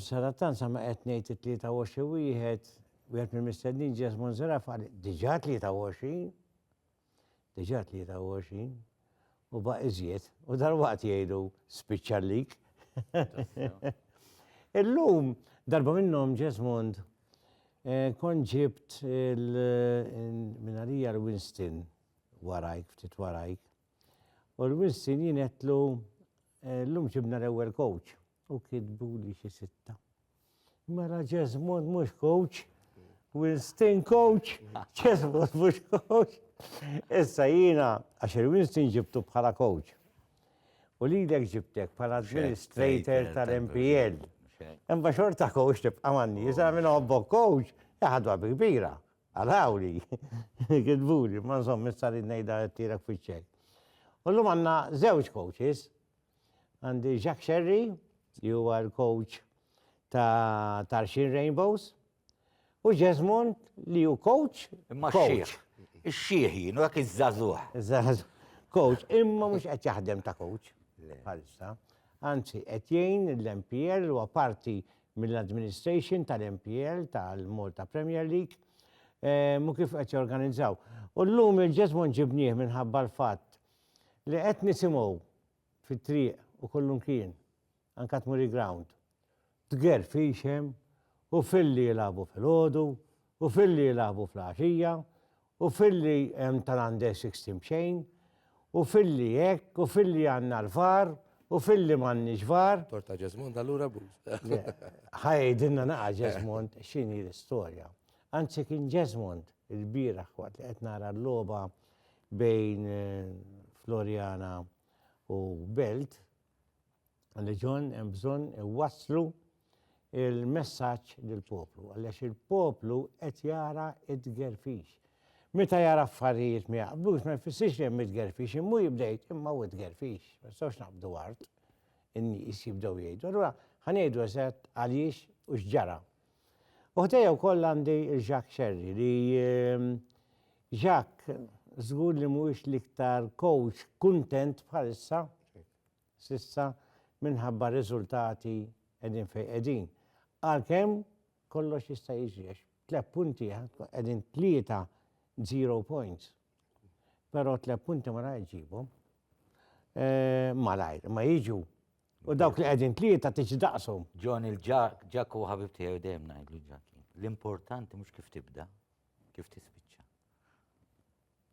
Sadattant sa ma qed ngħid it-23 wieħed, wieħed mill-mistednin Ġes Monserrat qal diġà 23, diġà 23, u baq iżjed, u dal-waqt jgħidu spiċċallik. Illum, darba minnhom Ġesmond, eh, kon ġibt il-minarija l-Winston warajk, ftit warajk, U l-wissin jien għedtlu eh, llum ġibna l-ewwel coach u kitbu li xi sitta. Mela Ġesmond mhux coach, Winston coach, Ġesmond mhux coach. Issa jiena għax il-Winston ġibtu bħala coach. U li l ġibtek bħala administrator tal-MPL. Imma xorta coach tibqa' manni, jisa minn obbok coach, jaħadwa bi kbira. Arauli! Gidbuli, imma nżomm issa rrid ngħidha għedtilek fiċ-ċej. U llum għandna żewġ coaches. Għandi Jacques Scerri, li huwa l-coach ta' Tarxin Rainbows, u Jesmond li hu coach. Imma xieħ. Ix-xieħ jien, dak iż-żagħżugħ. Iż-żagħżugħ. Coach, imma mhux qed jaħdem ta' coach. Bħalissa. Anzi, qed jgħin l-MPL huwa parti mill-administration tal-MPL, tal-Malta Premier League, u kif qed jorganizzaw. U llum il-ġeżmon ġibnieh minħabba l-fatt li qed nisimgħu fit-triq u kullimkien, anke tmur il-ground, tgerr f'għixem u filli jilagħbu filgħodu u filli jilagħbu fl-għaxija u filli hemm tal-under 16 b'xejn, u filli hekk, u filli għandna l-VAR, u filli m'għandniex VAR. Tort ta' Ġesmond allura abbuż. Ħa jgħidilna naqa' Ġesmond x'inhi l-istorja. Anzi kien Ġesmond ilbieraħ waqt li qed nara l-logħba bejn Floriana u Belt, Leġon hemm bżonn iwasslu il-messaġġ lill-poplu, għaliex il-poplu qed jara id-gerfix. Meta jara affarijiet ma jaqblux ma jfissirx li hemm id-gerfix, immu jibdejt imma u id-gerfix, ma nistgħux naqbdu art in-nies jibdew jgħidu. Allura ħanejdu eżatt għaliex u x'ġara. U ħdejja wkoll għandi Jacques Sherry li ehm, Jacques żgur li mhuwiex l-iktar coach kuntent bħalissa s'issa minħabba r-riżultati qegħdin fejn qegħdin. Għalkemm kollox jista' jiġri għax tliet punti qegħdin tlieta zero points. Però tliet punti ma rajt ġibhom. Eh, malajr, ma jiġu. U dawk li qegħdin tlieta tiġi daqshom. John il-ġak u ħabib tiegħi dejjem ngħidlu ġak. L-importanti mhux kif tibda, kif tispiċċa.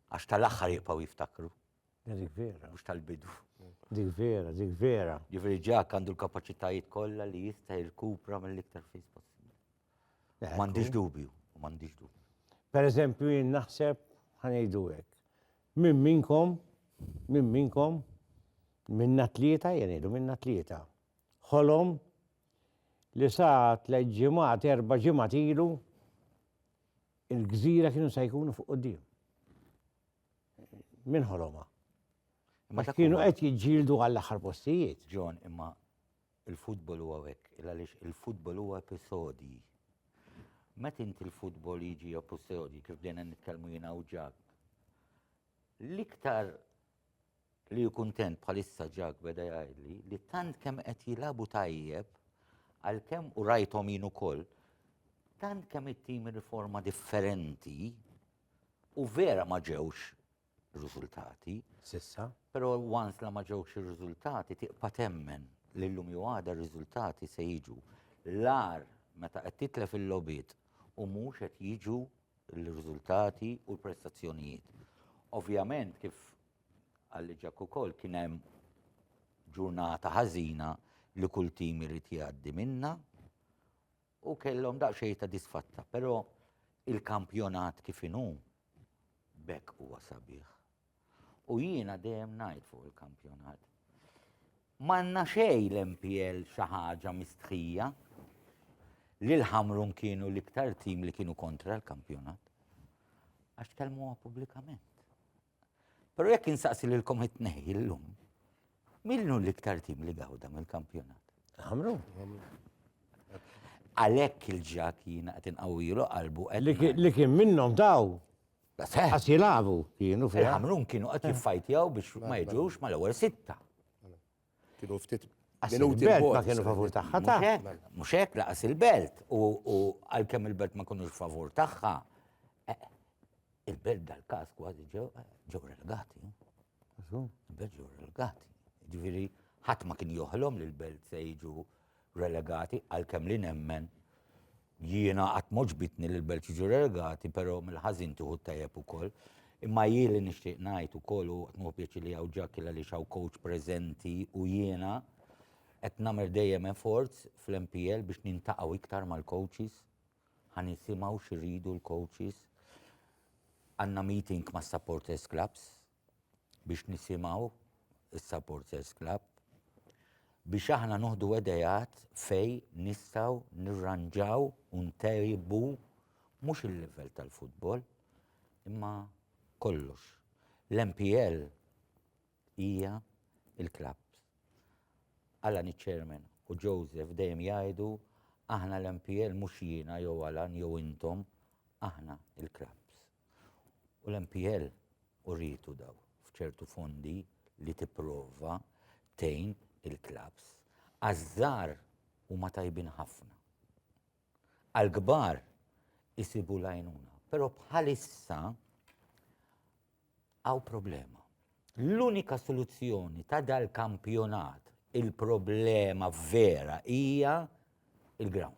Għax tal-aħħar jibqgħu jiftakru. Dik vera. Mhux tal-bidu. Dik vera, dik vera. Ġifieri ġak għandu l-kapaċitajiet kollha li jista' jirkupra mill-iktar fis possibbli. M'għandix dubju, m'għandix dubju. Per eżempju jien naħseb ħanejdu hekk. Min minkom, min minkom, minna tlieta, jenidu minna tlieta. Ħolom li sa tliet ġimgħat erba' ġimgħat ilu il-gżira kienu se jkunu fuq quddiem. Min ħoloma? Ma kienu qed jiġġieldu għall-aħħar postijiet. John, imma il-futbol huwa hekk, għaliex il-futbol huwa episodji. Met inti l-futbol jiġi episodji kif dejna nitkellmu jiena u ġak. L-iktar li kuntent bħalissa ġak beda jgħidli li tant kemm qed jilabu tajjeb għalkemm u rajthom jien ukoll tant kemm it-tim riforma differenti U vera ma ġewx riżultati. Sissa. Però once la ma ġewx ir-riżultati tiqpa' temmen li llum jew għada r-riżultati se jiġu. L-agħar meta qed titlef il-logħbiet u mhux qed jiġu l-riżultati u l-prestazzjonijiet. Ovvjament kif qal li Ġakku wkoll kien hemm ġurnata ħażina li kull tim irid jgħaddi minnha U kellhom daqsxejn ta' disfatta, però il-kampjonat kif inhu bekk huwa sabiħ. U jiena dejjem ngħid fuq il-kampjonat. Manna xej l-MPL xi ħaġa mistħija li l-ħamrun kienu l-iktar tim li kienu kontra l-kampjonat. Għax tkellmuha pubblikament. Però jekk insaqsi lilkom it-tnejn illum, min hu l-iktar tim li gawda mill-kampjonat? Għamlu. Għalhekk il-ġak jiena qed inqawwilu qalbu qed Li kien- li kien minnhom daw. Seħ. Għas jilabu kienu fiha. Il-ħamrun kienu qed jiffajtjaw biex ma jiġux mal-ewwel sitta. Kienu ftit minuti il-belt ma kienu favur tagħha ta' mhux hekk laqas il-belt u għalkemm il-belt ma kunux favur tagħha eh, il-belt dal-każ kważi ġew ġew relegati. Il-belt ġew relegati. Ġifieri ħadd ma kien joħlom li l-belt se jiġu relegati għalkemm li nemmen Jiena qatt m'għoġbitni li l-belt jiġu relegati, però mill-ħażin tieħu t-tajjeb ukoll. Imma jien li nixtieq ngħid ukoll u qed nieħu pjaċir li hawn Ġakil għaliex hawn coach preżenti u jiena qed nagħmel dejjem efforts fl-MPL biex niltaqgħu iktar mal-coaches, ħa nisimgħu x'iridu l-coaches. Għandna meeting mas-supporters clubs biex nisimgħu is-supporters club biex aħna noħdu edejat fej nistgħu nirranġaw u ntejbu mhux il-livell tal-futbol imma kollox. L-MPL hija il-klabb. Alan iċ-chairman u Joseph dejjem jgħidu aħna l-MPL mhux jiena jew Alan jew intom, aħna il-klabbs. U l-MPL urietu daw f'ċertu fondi li tipprova tgħin il-klabbs. Għaż-żgħar huma tajbin ħafna. Għall-kbar isibu l-għajnuna. Però bħalissa għaw problema. L-unika soluzzjoni ta' dal-kampjonat il-problema vera hija il-grounds.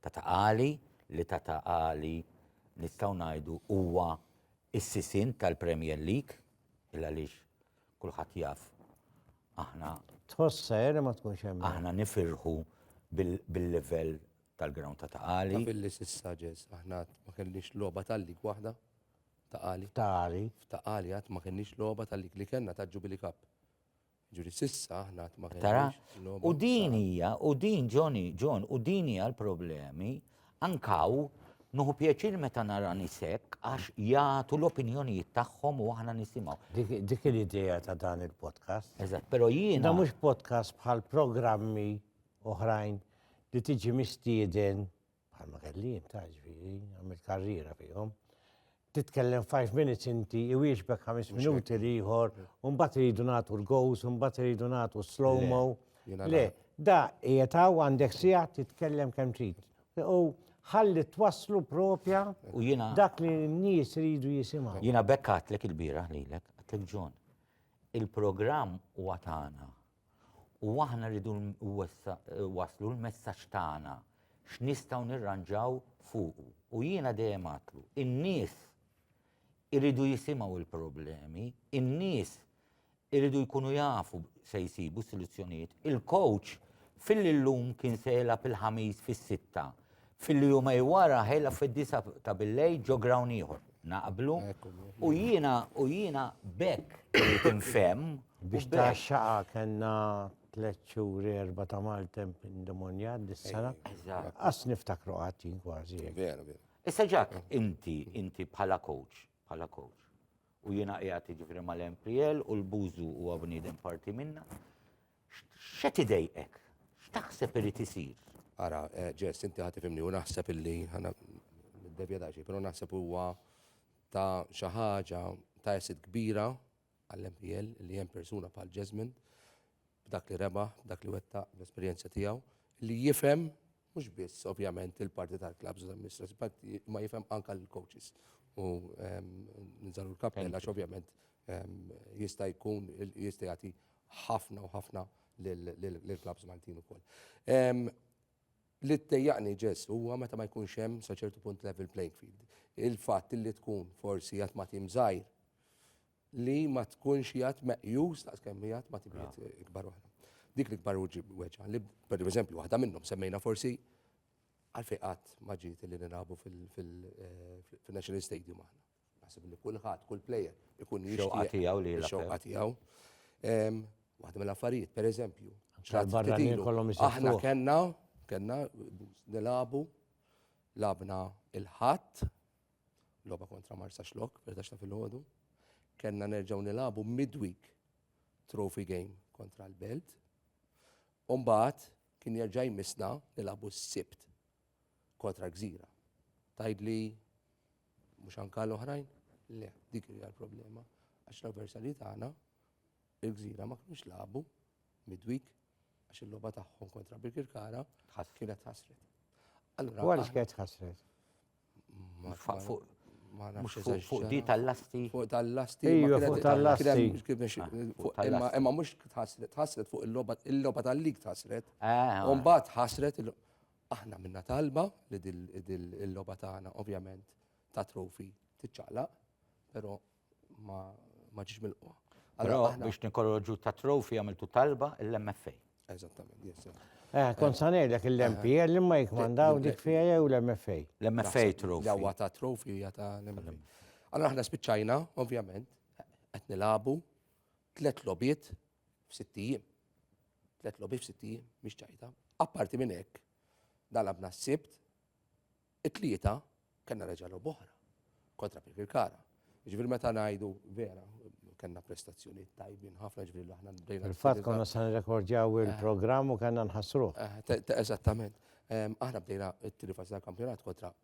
Tata' Għali, li Tata' Għali nistgħu ngħidu huwa s-sisien tal-Premier League, il għaliex kulħadd jaf aħna. Tħoss sajr li ma tkunx hemm. Aħna nifirħu bil-livell tal-ground Tata' Għali. Taf illi s'issa Ġeż aħna għad ma kellniex logħba tal-league waħda Tata' Għali. F'Tata' Għali. F'Tata' Għali għad ma kellniex logħba tal-league li kellna ta' Jubilee Cup. Ġuri sissa aħna qatt ma Tara? U din hija, u din Johnny, John, u din hija l-problemi ankaw nuħu pjaċir meta nara nisek għax jagħtu l-opinjonijiet tagħhom u aħna nisimgħu. Dik l-idea ta' dan il-podcast. Eżatt, però jiena. Da mhux podcast bħal programmi oħrajn li tiġi mistieden bħalma kelli jien ta' ġviri, għamil karriera fihom. Titkellem 5 minutes inti, iwieġbek 5 minuti liħor, un-bat rridu natu l-gows, un-bat rridu natu slow-mo. Le, da jetaw għandek sija titkellem kem trid. U ħalli twaslu propja u jina dak li n-nies rridu jisimaw. Jina bekkat lek il-bira li lek, għatlek ġon. Il-program u għatana. U aħna rridu nwasslu l-messaġġ tagħna x'nistgħu nirranġaw fuqu. U jiena dejjem għadtlu, in-nies iridu jisimgħu l-problemi, in-nies iridu jkunu jafu se jsibu s-soluzzjonijiet. Il-coach fil-illum kien se jilgħab il-Ħamis fis-sitta Fil-jumej wara ħejla fid-disa ta' billej ġo grawn ieħor. Naqblu. U jiena u jiena bekk tinfem. Biex ta' xaqa kellna tliet xhur erba' ta' maltemp indemonjat dis-sena. Qas niftakru qatt jien kważi. Vera, vera. Issa ġak, inti, inti bħala coach, bħala coach. U jiena qiegħed jiġifieri mal-MPL u l-Bużu huwa bniedem parti minna. X'qed idejqek? X'taħseb irid isir? Ara, Jess, inti ħa tifhimni u naħseb illi ħana niddevja daqsxejn, però naħseb huwa ta' xi ħaġa ta' asset kbira għall-MPL li hemm persuna bħal Jasmine b'dak li rebaħ, b'dak li wettaq, bl-esperjenza tiegħu, li jifhem mhux biss ovvjament il-parti tal-klabs u tal-mistras, ma jifhem anka l-coaches. U nżalu l-kappella, ovvjament jista' jkun jista' jagħti ħafna u ħafna lill-klabbs Maltin ukoll. Li ttejjaqni ġess huwa meta ma jkunx hemm sa ċertu punt level playing field. Il-fatt li tkun forsi jgħat ma tim żgħir li ma tkunx jgħat meqjus ta' kemm jgħat ma tim ikbar waħda. Dik li kbar uġi weġa li per eżempju waħda minnhom semmejna forsi għalfejn qatt ma ġiet li nilagħbu fil-National eh, Stadium aħna. Naħseb li kulħadd, kull plejer ikun jixtieq. Ix-xewqa tiegħu li jilgħab. Ix-xewqa tiegħu. Waħda mill-affarijiet, pereżempju. Tal-barranin kollhom ix-xewqa. Aħna kellna, kellna nilagħbu, lagħabna il-Ħadd, logħba kontra Marsa Xlok, perdax ta' filgħodu. Kellna nerġgħu nilagħbu midweek trophy game kontra l-Belt. Umbagħad kien jerġa' jmissna nilagħbu s-Sibt kontra Gżira. Tajdli Mhux anke għal oħrajn? Le, dik hija l-problema, għax l-avversarji tagħna, il-Gżira, ma kinux lagħbu midweek għax il-logħba tagħhom kontra Birkirkara kienet ħasret. Allura. Wara x'kienet ħasret? Fuq di tal-lasti. Fuq tal-lasti. Ija, fuq tal-lasti. Imma mux tħasret, tħasret fuq il-loba tal-lig tħasret. Umbat tħasret, Aħna minna talba li dil-loba tagħna ovvjament ta' trofi tiċċaqlaq, pero ma ġiġ milqwa. Pero biex nikorroġu ta' trofi għamiltu talba l-MFA. Eżattament, yes. Eh, kon sanej dak il-MPL li ma jikmandaw dik fija jew l-MFA. L-MFA trofi. Jawa ta' trofi, ta' l-MFA. Allora aħna spiċċajna, ovvjament, qed nilabu, Tliet logħbiet f'sitt ijiem. Tliet logħbiet f'sitt ijiem mhix ċajta. Apparti minn hekk, dalabna s-sibt, it-tlieta kellna reġa' logħba oħra kontra Pirkirkara. Ġifieri meta ngħidu vera, kellna prestazzjoni tajbin ħafna ġifieri aħna bdejna. Il-fatt konna se nirrekordjaw il-programm u kellna nħassruh. Eh, eżattament. Ehm, aħna bdejna t-tiri fażi tal-kampjonat kontra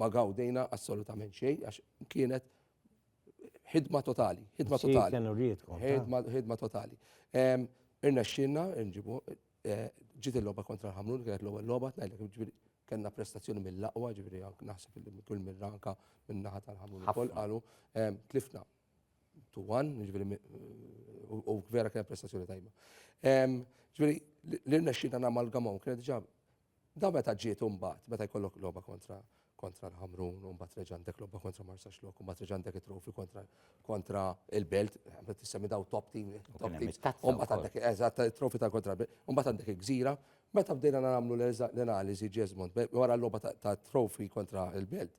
ma gawdejna assolutament xejn għax kienet ħidma totali, ħidma totali. Ħidma totali. Irna xinna, nġibu, eh, ġiet il-loba kontra l-ħamrun, kienet l-ewwel loba, tnajdlek ġifieri kellna prestazzjoni mill-aqwa, ġifieri naħseb li kull mir-ranka minn naħa tal-ħamrun ukoll qalu tlifna to one, ġifieri u vera kienet prestazzjoni tajba. Ġifieri l-irna xinna namalgamaw, kienet ġab Dan meta ġiet u mbagħad, meta jkollok logħba kontra kontra l-Ħamrun, u mbagħad reġa' għandek logħba kontra Marsaxlokk, u mbagħad reġa' għandek it-trofi kontra kontra il-Belt, meta tissemmi daw top team, top team. U mbagħad għandek eżatt trofi ta' kontra l-Belt, u mbagħad għandek il-Gżira. Meta bdejna nagħmlu l-analiżi Jesmond, wara l-logħba ta' trofi kontra l-Belt.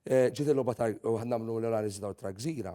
Ġiet il-logħba ta' nagħmlu l-analiżi ta' Gżira,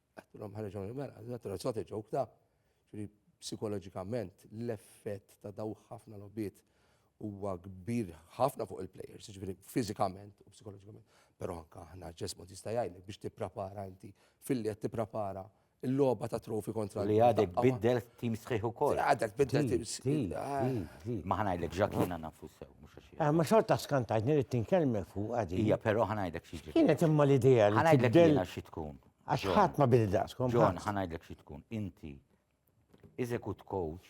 Għattilhom ħareġ hawn il-mela, għattilhom it's not a joke da. Ġifieri psikoloġikament l-effett ta' daw ħafna logħbiet huwa kbir ħafna fuq il-players, ġifieri fiżikament u psikoloġikament. Però anke aħna ġesmu tista' jgħidlek biex tipprepara inti filli qed tipprepara il-logħba ta' trofi kontra Li għadek biddel tim sħiħ ukoll. Għadek biddel tim sħiħ. Ah. Ma ħanajdlek ġak jiena nafu sew, mhux għax. Ah, ma xorta skantajt nirrid tinkelmek fuq għadi. Hija però ħanajdlek xi ġiet. Kienet imma l-idea li. Ħanajdlek jiena xi tkun. Għax ħadd ma bini daqskom. John, ħanajdlek xi tkun. Inti, iżekut coach,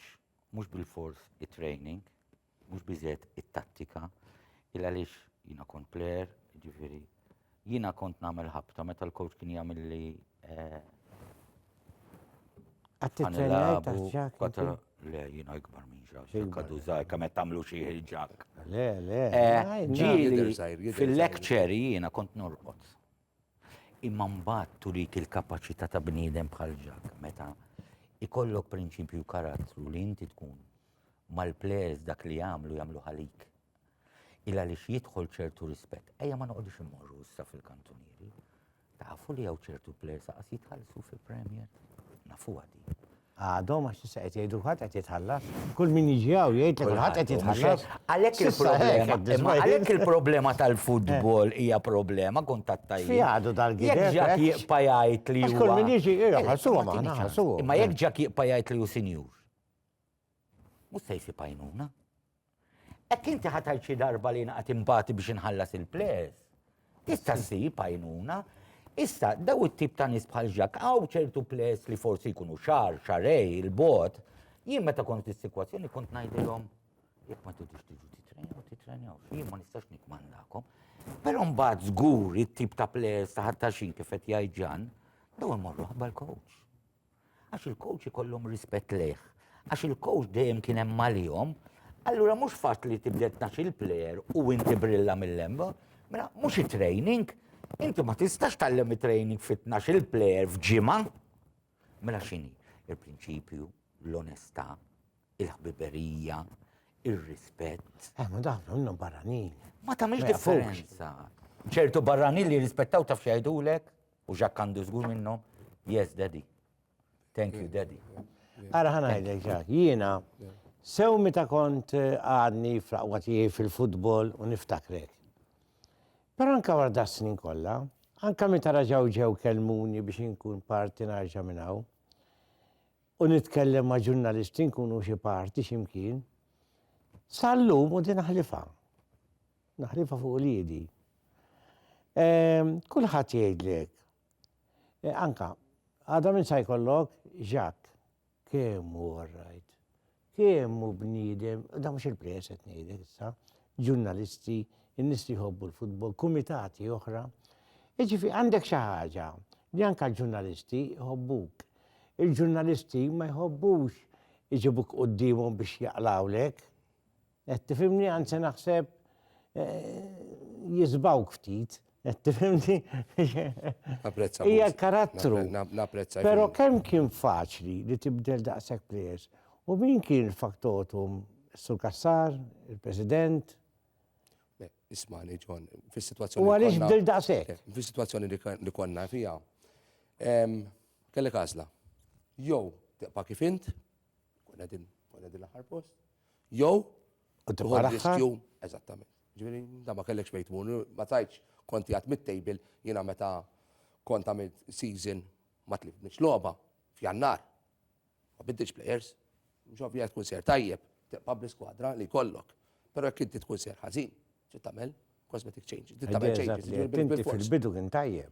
mhux bil-fors it-training, mhux biżet it-tattika, il għaliex jina kont player, ġifiri, jina kont nagħmel ħabta meta l-coach kien jagħmel li eh, Le, jina ikbar minn ġak, xekkadu zaħi, kamet tamlu xie ġak. Le, le. Eh, ġili, fil-lecture jina kont norqot. Imma mbagħad turik il-kapaċità ta' bniedem bħal ġak meta ikollok prinċipju karattru li inti tkun mal-plejers dak li jagħmlu jagħmlu ħalik. Illa li jidħol ċertu rispett. Ejja ma noqgħodux immorru issa fil-kantunieri. Tafu li hawn ċertu plejers aqas jitħallsu fil-Premier. Nafu għadi. Għadhom għax issa qed jgħidu kulħadd qed jitħallas. Kull min jiġi hawn jgħid li kulħadd qed jitħallas. Għalhekk il-problema, għalhekk il-problema tal-futbol hija problema kont tat-tajjeb. Fi għadu dal-gideb. Jekk ġak jibqa' jgħid li huwa. Kull min jiġi jgħid ħassuhom aħna ħassuhom. Imma jekk ġak jibqa' jgħid li hu sinjur. Mhux se jsib għajnuna. Hekk inti ħa tgħid xi darba li naqgħad imbagħti biex inħallas il-ples. Tista' ssib għajnuna. Issa, daw it-tip ta' nies bħal ġak, għaw ċertu ples li forsi jkunu xar, xarej, il-bot, jien meta kont fis-sikwazzjoni kont ngħidilhom jekk ma tridux tiġu titrenjaw, titrenjaw, jien ma nistax nikmandakom. Però mbagħad żgur it-tip ta' ples ta' ħattaxin kif qed jgħid ġan, daw imorru ħabba l-coach. għax il-coach ikollhom rispett lejh, għax il-coach dejjem kien hemm għalihom, allura mhux fatt li tibda tnax il-plejer u inti brilla mill-lemba, mela mhux it-training, inti ma tistax tallem it-training fit-tnax il-plejer f'ġimgħa. Mela x'inhi? Il-prinċipju, l-onestà, il-ħbiberija, il-rispett. Eh, ma dawn għandhom barranin. Ma tagħmilx differenza. ċertu barranin li rispettaw taf xejdulek, U Jacques għandu żgur minnhom, yes daddy. Thank you daddy. Ara ħana għajdek ġak, jiena sew meta kont eh, għadni fl-aqwa tiegħi fil-futbol u niftakrek. Però anka wara da snin kollha, anka meta raġaw ġew kelmuni biex inkun parti narġa' minn hawn u nitkellem ma' ġurnalisti nkunu xi parti x'imkien, sal-lum u din ħlifa. Naħlifha fuq uliedi. Ehm, kulħadd jgħidli hekk. E, anka, għadha minn sa jkollok Jacques, kemm hu rajt, kemm hu bniedem, da mhux il-press qed ngħidlek issa, ġurnalisti, in-nies li jħobbu l-futbol, kumitati oħra. Iġifi għandek xi ħaġa li anka l-ġurnalisti jħobbuk. Il-ġurnalisti ma jħobbux iġibuk qudiemhom biex jaqlawlek. Qed tifhimni anzi naħseb jiżbgħuk ftit. Qed tifhimni? Napprezza. Hija karattru. Napprezza. Però kemm kien faċli li tibdel daqshekk plejers. U min kien faktotum Sur Kassar, il-President? Ismani, John, fis-situazzjoni. U għaliex bdil daqshekk? Fis-situazzjoni li konna fija. Kellek għażla. Jew tibqa' kif int, Kun qegħdin kun qegħdin l-aħħar post. Jew tibqa' riskju eżattament. Ġifieri da ma kellekx fejn tmur, ma tajtx konti għad mit-table jiena meta kont għamil season ma tlifniex logħba f'jannar. Ma biddilx players. Mhux ovvja tkun ser tajjeb, tibqa' bl-iskwadra li kollok. Però jekk inti tkun ser ħażin, trid tagħmel cosmetic changes. Trid tagħmel changes. Inti fil-bidu kien tajjeb.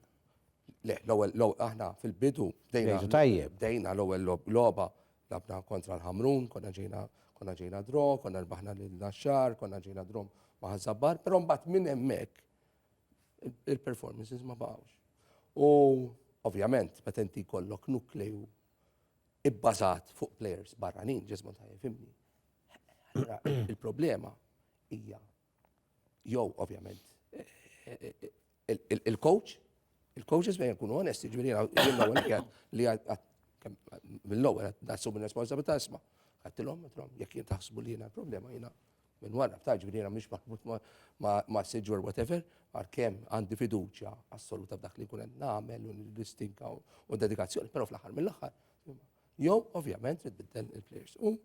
Le, l-ewwel aħna fil-bidu bdejna tajjeb. Bdejna l-ewwel logħba labna kontra l-Ħamrun, konna ġejna konna ġejna dro, konna rbaħna lil Naxxar, konna ġejna dro ma' Ħażabbar, però mbagħad minn hemmhekk il-performances ma baqgħux. U ovvjament, meta inti kollok nukleju ibbażat fuq players barranin, ġismu ta' jifimni. Il-problema hija Jew, ovvjament, il-coach, il-coaches bejn jkunu onesti, ġviri l-ewwel li mill-ewwel qed nassum ir-responsabilità isma' għattilhom, għattilhom, jekk jien taħsbu li jiena problema jiena minn wara, ta' ġviri jiena mhix maħbut ma' siġur whatever, għalkemm għandi fiduċja assoluta f'dak li jkun qed nagħmel u l-istinka u dedikazzjoni, però fl-aħħar mill-aħħar. Jew, ovvjament, trid il-players. U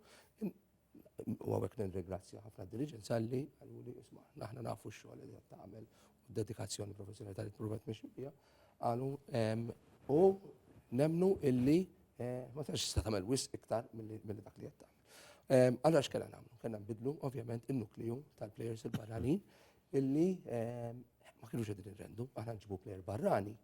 U għawek nirringrazzja ħafna diriġenz għalli għallu li isma, naħna nafu xogħol li qed tagħmel u d-dedikazzjoni professjonali tal provet mexi bija għalu u nemnu illi eh, ma tax tista' tagħmel wis iktar milli dak li qed tagħmel. Allora x'kellha nagħmlu? Kellna nbidlu ovvjament in-nukliju tal-plejers il-barranin illi ma kienux qegħdin irrendu, aħna nġibu plejer barrani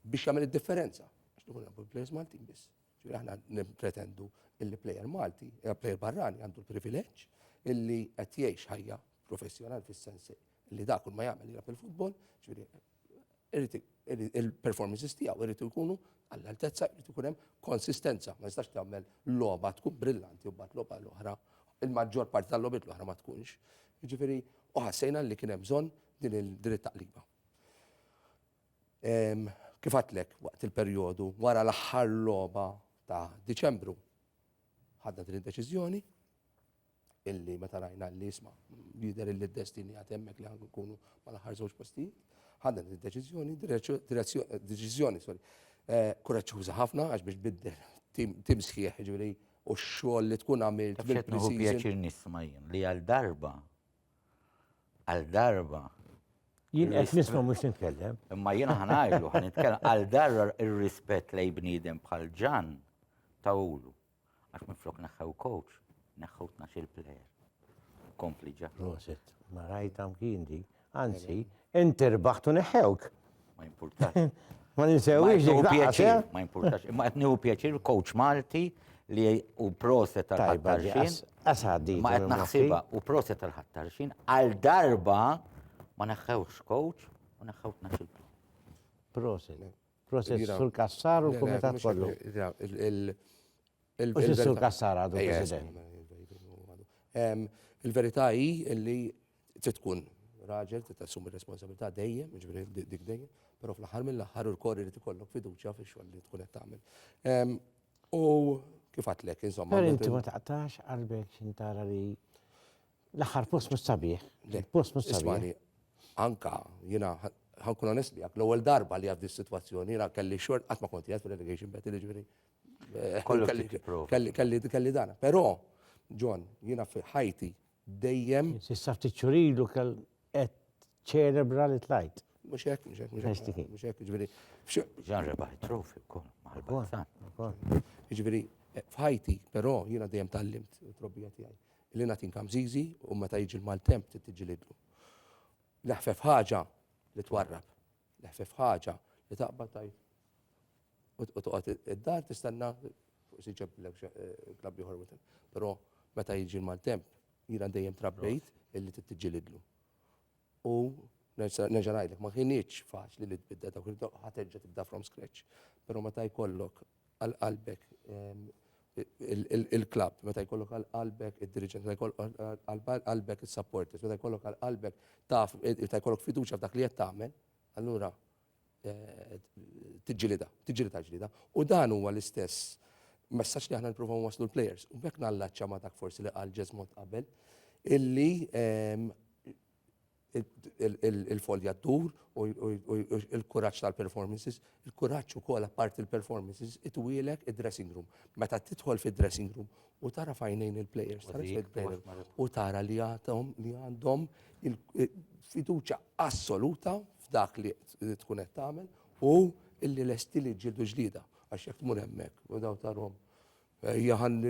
biex jagħmel id-differenza. Għax nkun nagħmlu plejers Maltin biss. Ġifieri aħna nippretendu illi plejer Malti, eh, plejer barrani għandu l-privileġġ illi qed jgħix ħajja professjonal fis-sens li dak kull ma jagħmel jilgħab il-futbol, ġifieri il-performances tiegħu irid ikunu għall-altezza irid ikun hemm konsistenza, ma jistax tagħmel logħba tkun brillanti u mbagħad logħba l-oħra, il-maġġor parti tal-logħbiet l-oħra ma tkunx. Ġifieri u ħassejna li kien hemm bżonn din il-dritt taqliba. Kif għadtlek waqt il-perjodu wara l-aħħar logħba ta' Diċembru ħadna din id-deċiżjoni illi meta rajna li jisma' jidher illi d-destini għad hemmhekk li ħanku nkunu mal-aħħar żewġ postijiet, ħadna din id-deċiżjoni, deċiżjoni, sorry, eh, kuraċċuża ħafna għax biex biddel tim sħiħ ġifieri u x-xogħol li tkun għamilt. Qed nieħu pjaċir nisma' jien li għal darba Għal darba. Jien qed nisma' mhux nitkellem. Imma jiena ħanajlu ħan nitkellem għal darba ir-rispett lej bniedem bħal ġan ta' ulu. Għax minflok neħħew coach, neħħew tnax-il player. Kompli ġa. Proset, ma rajt hawn kien di. Anzi, inti rbaħtu neħħewk. Ma jimpurtax. Ma ninsewix dik pjaċir. Ma jimpurtax. Imma qed nieħu pjaċir coach Malti li u proset tal-ħattarxin. Asadi. Ma qed naħsibha u proset tal-ħattarxin għal darba ma neħħewx coach u neħħew tnaxxiltu. Proset. Proset sul kassar u kumitat kollu. Il-verità hi li trid tkun raġel, trid tassumi r-responsabilità dejjem, jiġifieri dik dejjem, però fl-aħħar mill-aħħar u l-kor irid ikollok fiduċja fix-xogħol li tkun qed tagħmel. U kif għadtlek, insomma. Però inti ma taqtax qalbek xi tara li l-aħħar post mhux sabiħ. Post mhux sabiħ. Ismagħni, anke jiena ħankun onest miegħek, l-ewwel darba li għaddi s-sitwazzjoni jiena kelli xogħol qatt ma kont qiegħed fil-relegation battle, jiġifieri Kelli dan. Però, John, jiena fi ħajti dejjem. Sissa ftit xurilu kell qed ċelebra li tlajt. Mhux hekk, mhux hekk, mhux hekk. Mhux hekk, ġifieri. Ġan rebaħ trofi wkoll mal-Barça. Ġifieri, f'ħajti, però jiena dejjem tallimt trobbija tiegħi. Li nagħtin kamżiżi u meta jiġi l-maltemp tittiġilidlu. L-ħfef ħaġa li twarrab. L-ħfef ħaġa li taqbad tajt u toqgħod id-dar tistenna fuq si ġeblek klabb ieħor within. Però meta jiġi l-maltemp, jiena dejjem trabbejt illi tittiġilidlu. U nerġa' ngħidlek, ma kienitx faċli li tbidda dawk ħaterġa' tibda from scratch. Però meta jkollok għal qalbek ehm, il-klab, meta jkollok għal-qalbek il-dirigent, meta jkollok għal-qalbek il-supporters, meta jkollok għal-qalbek taf, meta jkollok fiduċa f'dak li jett tagħmel, allura tiġġilidha, tiġġilidha l-ġlieda. U dan huwa l-istess messaġġ li aħna nippruvaw nwasslu l-plejers. U b'hekk nallacċa ma' dak forsi li qal Ġeżmod qabel illi il-folja ddur u l-kuraġġ tal-performances, il-kuraġġ ukoll apparti l-performances, itwielek id-dressing room. Meta tidħol fid-dressing room u tara fajnejn il-plejers, tara il-plejers, u tara li għatom li għandhom il-fiduċa assoluta f'dak li tkun qed tagħmel u illi lesti li ġildu ġlida għax jekk tmur hemmhekk u daw tarhom. Jaħan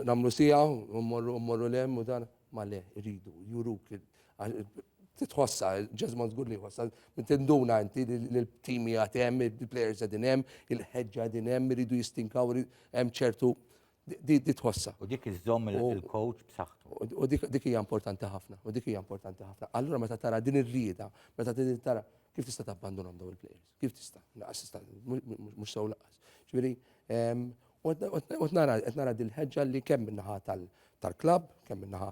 nagħmlu sija u mmorru lem u dan Ma le, iridu, juruk li titħossa, ġezman zgur li jħossa, tinduna inti l-timi għatem, il-players għadin hemm, il-ħedġa għadin hemm, iridu jistinkaw, hemm ċertu di tħossa. U dik iżżomm il-coach b'saħħtu. U dik hija importanti ħafna, u dik hija importanti ħafna. Allura meta tara din ir-rieda, meta tara kif tista' tabbandunhom daw il-players? Kif tista'? Laqas tista' mhux sew laqas. Ġifieri, U nara, qed nara din ħeġġa li kemm minnaħa tal-klabb, kemm minnaħa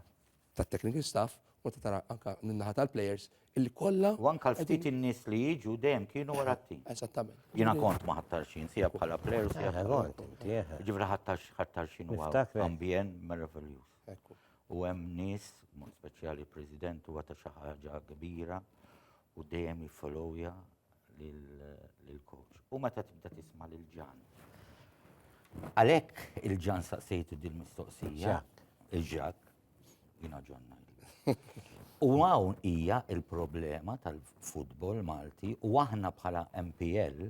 tat-technical staff, u ta' tara anka minnaħa tal-players, illi kollha. U anka l-ftit in-nies li jiġu dejjem kienu wara t-tim. Eżattament. Jiena kont ma ħattarxin, sija bħala player u sija bħala. Ġifri ħattarxin u ambjent meravigljuż. U hemm nies, mod speċjali president huwa ta' xi ħaġa kbira u dejjem jiffollowja lill-coach. U meta tibda tisma' lil Ġan. Għalhekk il-Ġan saqsejtu dil-mistoqsija. Il-ġak, jina ġonna. U hawn hija il-problema tal-futbol Malti u aħna bħala MPL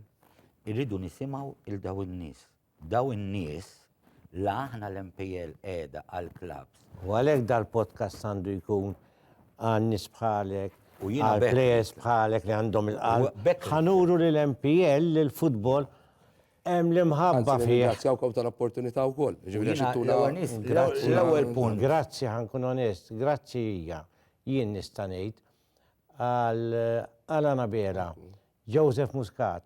irridu nisimgħu il-daw in-nies Dawn in-nies, la aħna l-MPL qiegħda għall-klabbs. U għalhekk dal-podcast għandu jkun għan-nies bħalek, għall-players bħalek li għandhom il-qalb. Ħa nuru li l-MPL, li l-futbol hemm l-imħabba fih. Nirringrazzjawkom tal-opportunità wkoll. L-ewwel punt. Grazzi, ħa nkun onest, grazzi hija, jien nista' ngħid, għal Anabela, Joseph Muscat,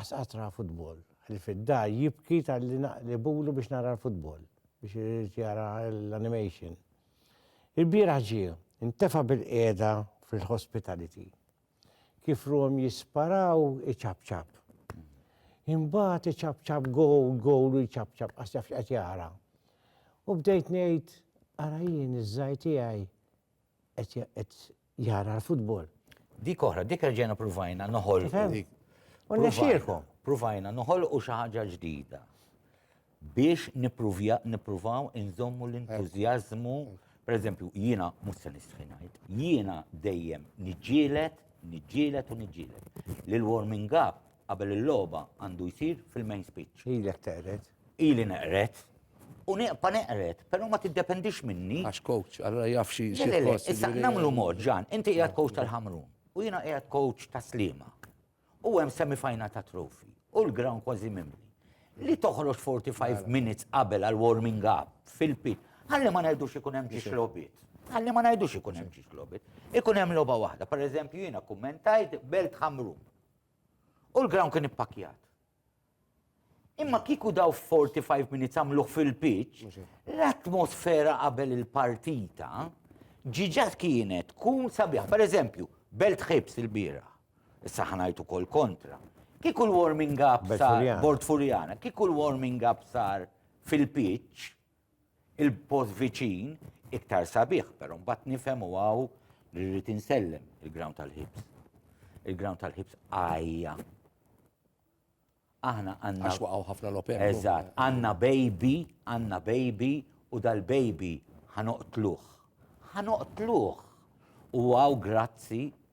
Qasqatra futbol. Li fid-dar jibki talli naqlibulu biex nara l-futbol, biex irid jara l-animation. Il-bieraħ ġie, intefa' bil-qiegħda fil-hospitality. Kif ruhom jisparaw iċapċap. Imbagħad iċapċap gowl, gowl u jċapċap qas jaf x'qed jara. U bdejt ngħid, ara jien iż-żgħir tiegħi qed jara l-futbol. Dik oħra, dik reġena provajna noħol. Provajna, provajna noħol u xi ħaġa ġdida. Biex nippruvaw inżommu l-entużjażmu, per eżempju, jiena mhux se nistħinajt, jiena dejjem niġġielet, niġġielet u niġġielet. L-warming up Qabel il-logħba għandu jsir fil-main speech. Ilek teqret. Ili neqret. U neqpa neqret, però ma tiddependix minni. Għax coach, allora jaf xi xi post. Issa jiġifieri- nagħmlu mod ġan, inti qiegħed coach tal-ħamrun u jiena qiegħed coach ta' slima. U hemm semifajna ta' trofi u l-ground kważi mimli. Li toħroġ 45 minutes qabel għal warming up fil-pit. Għalli ma ngħidux ikun hemm ġiex lobit. Għalli ma ngħidux ikun hemm ġiex lobit. Ikun hemm logħba waħda. Per eżempju jiena kummentajt belt ħamrun. U l-ground kien ippakkjat. Imma kiku daw 45 minutes għamluħ fil-pitch, l-atmosfera qabel il-partita ġiġat kienet kun sabiħ. Per eżempju, belt ħibs il-bira, issa ħanajtu kol kontra. Kiku l-warming up sar, bord furjana, kiku l-warming up sar fil-pitch, il-post viċin iktar sabiħ, pero mbagħad nifhem u għaw li rrid insellem il-ground tal-ħibs. Il-ground tal-ħibs għajja. Aħna għanna. Għax waqgħu ħafna l-open. Eżatt, għanna baby, għanna baby u dal-baby ħanoqtluħ. Ħanoqtluħ. U għaw grazzi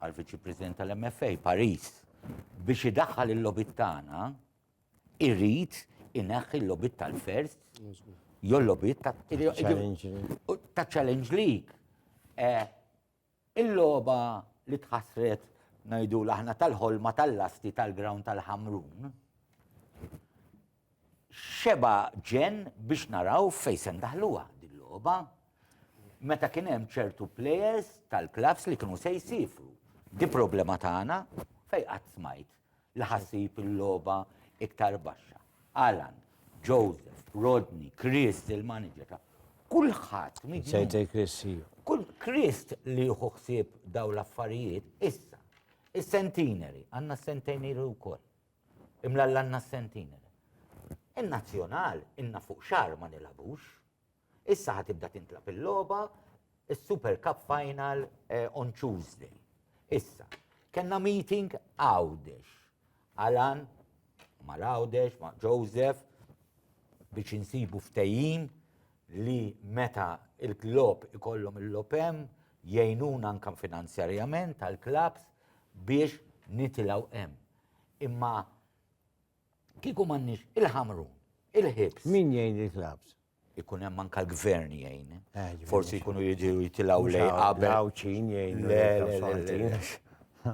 għal viċi president tal-MFA Paris biex idaħħal il-lobit tagħna irrid inaħħi l-lobit tal-first jew l-lobit ta' challenge league. Eh, il-logħba li tħassret ngħidu l-aħna tal-ħolma tal-lasti tal-ground tal-ħamrun Xebgħa ġenn biex naraw fejn se ndaħluha din logħba meta kien hemm ċertu players tal-klabbs li kienu se jsifru. Di problema tagħna fejn qatt smajt li ħassib il-logħba iktar baxxa. Alan, Joseph, Rodney, Chris, il-manager ta' kulħadd. Sejtej Chris, Kull Chris li jieħu ħsieb daw l-affarijiet issa. Is-centenary, għandna s-centenary wkoll. Imlallanna s-sentiner. In-Nazzjonal ilna fuq xahar ma nilagħbux. Issa ħa tibda tintlagħab il-logħba, is-Super Cup Final on Tuesday. Issa, kellna meeting Għawdex. Alan mal-Għawdex, ma' Joseph, biex insibu ftehim li meta il-club ikollhom il-logħob hemm, jgħinuna anke finanzjarjament għall-clubs biex nitilgħu hemm. Imma kieku m'għandniex il-ħamru, il-ħibs. Min jgħin il-klabs? ikun hemm anka l-gvern jgħin. Eh, Forsi jkunu jiġu jitilgħu lej qabel. Għawċin jgħin.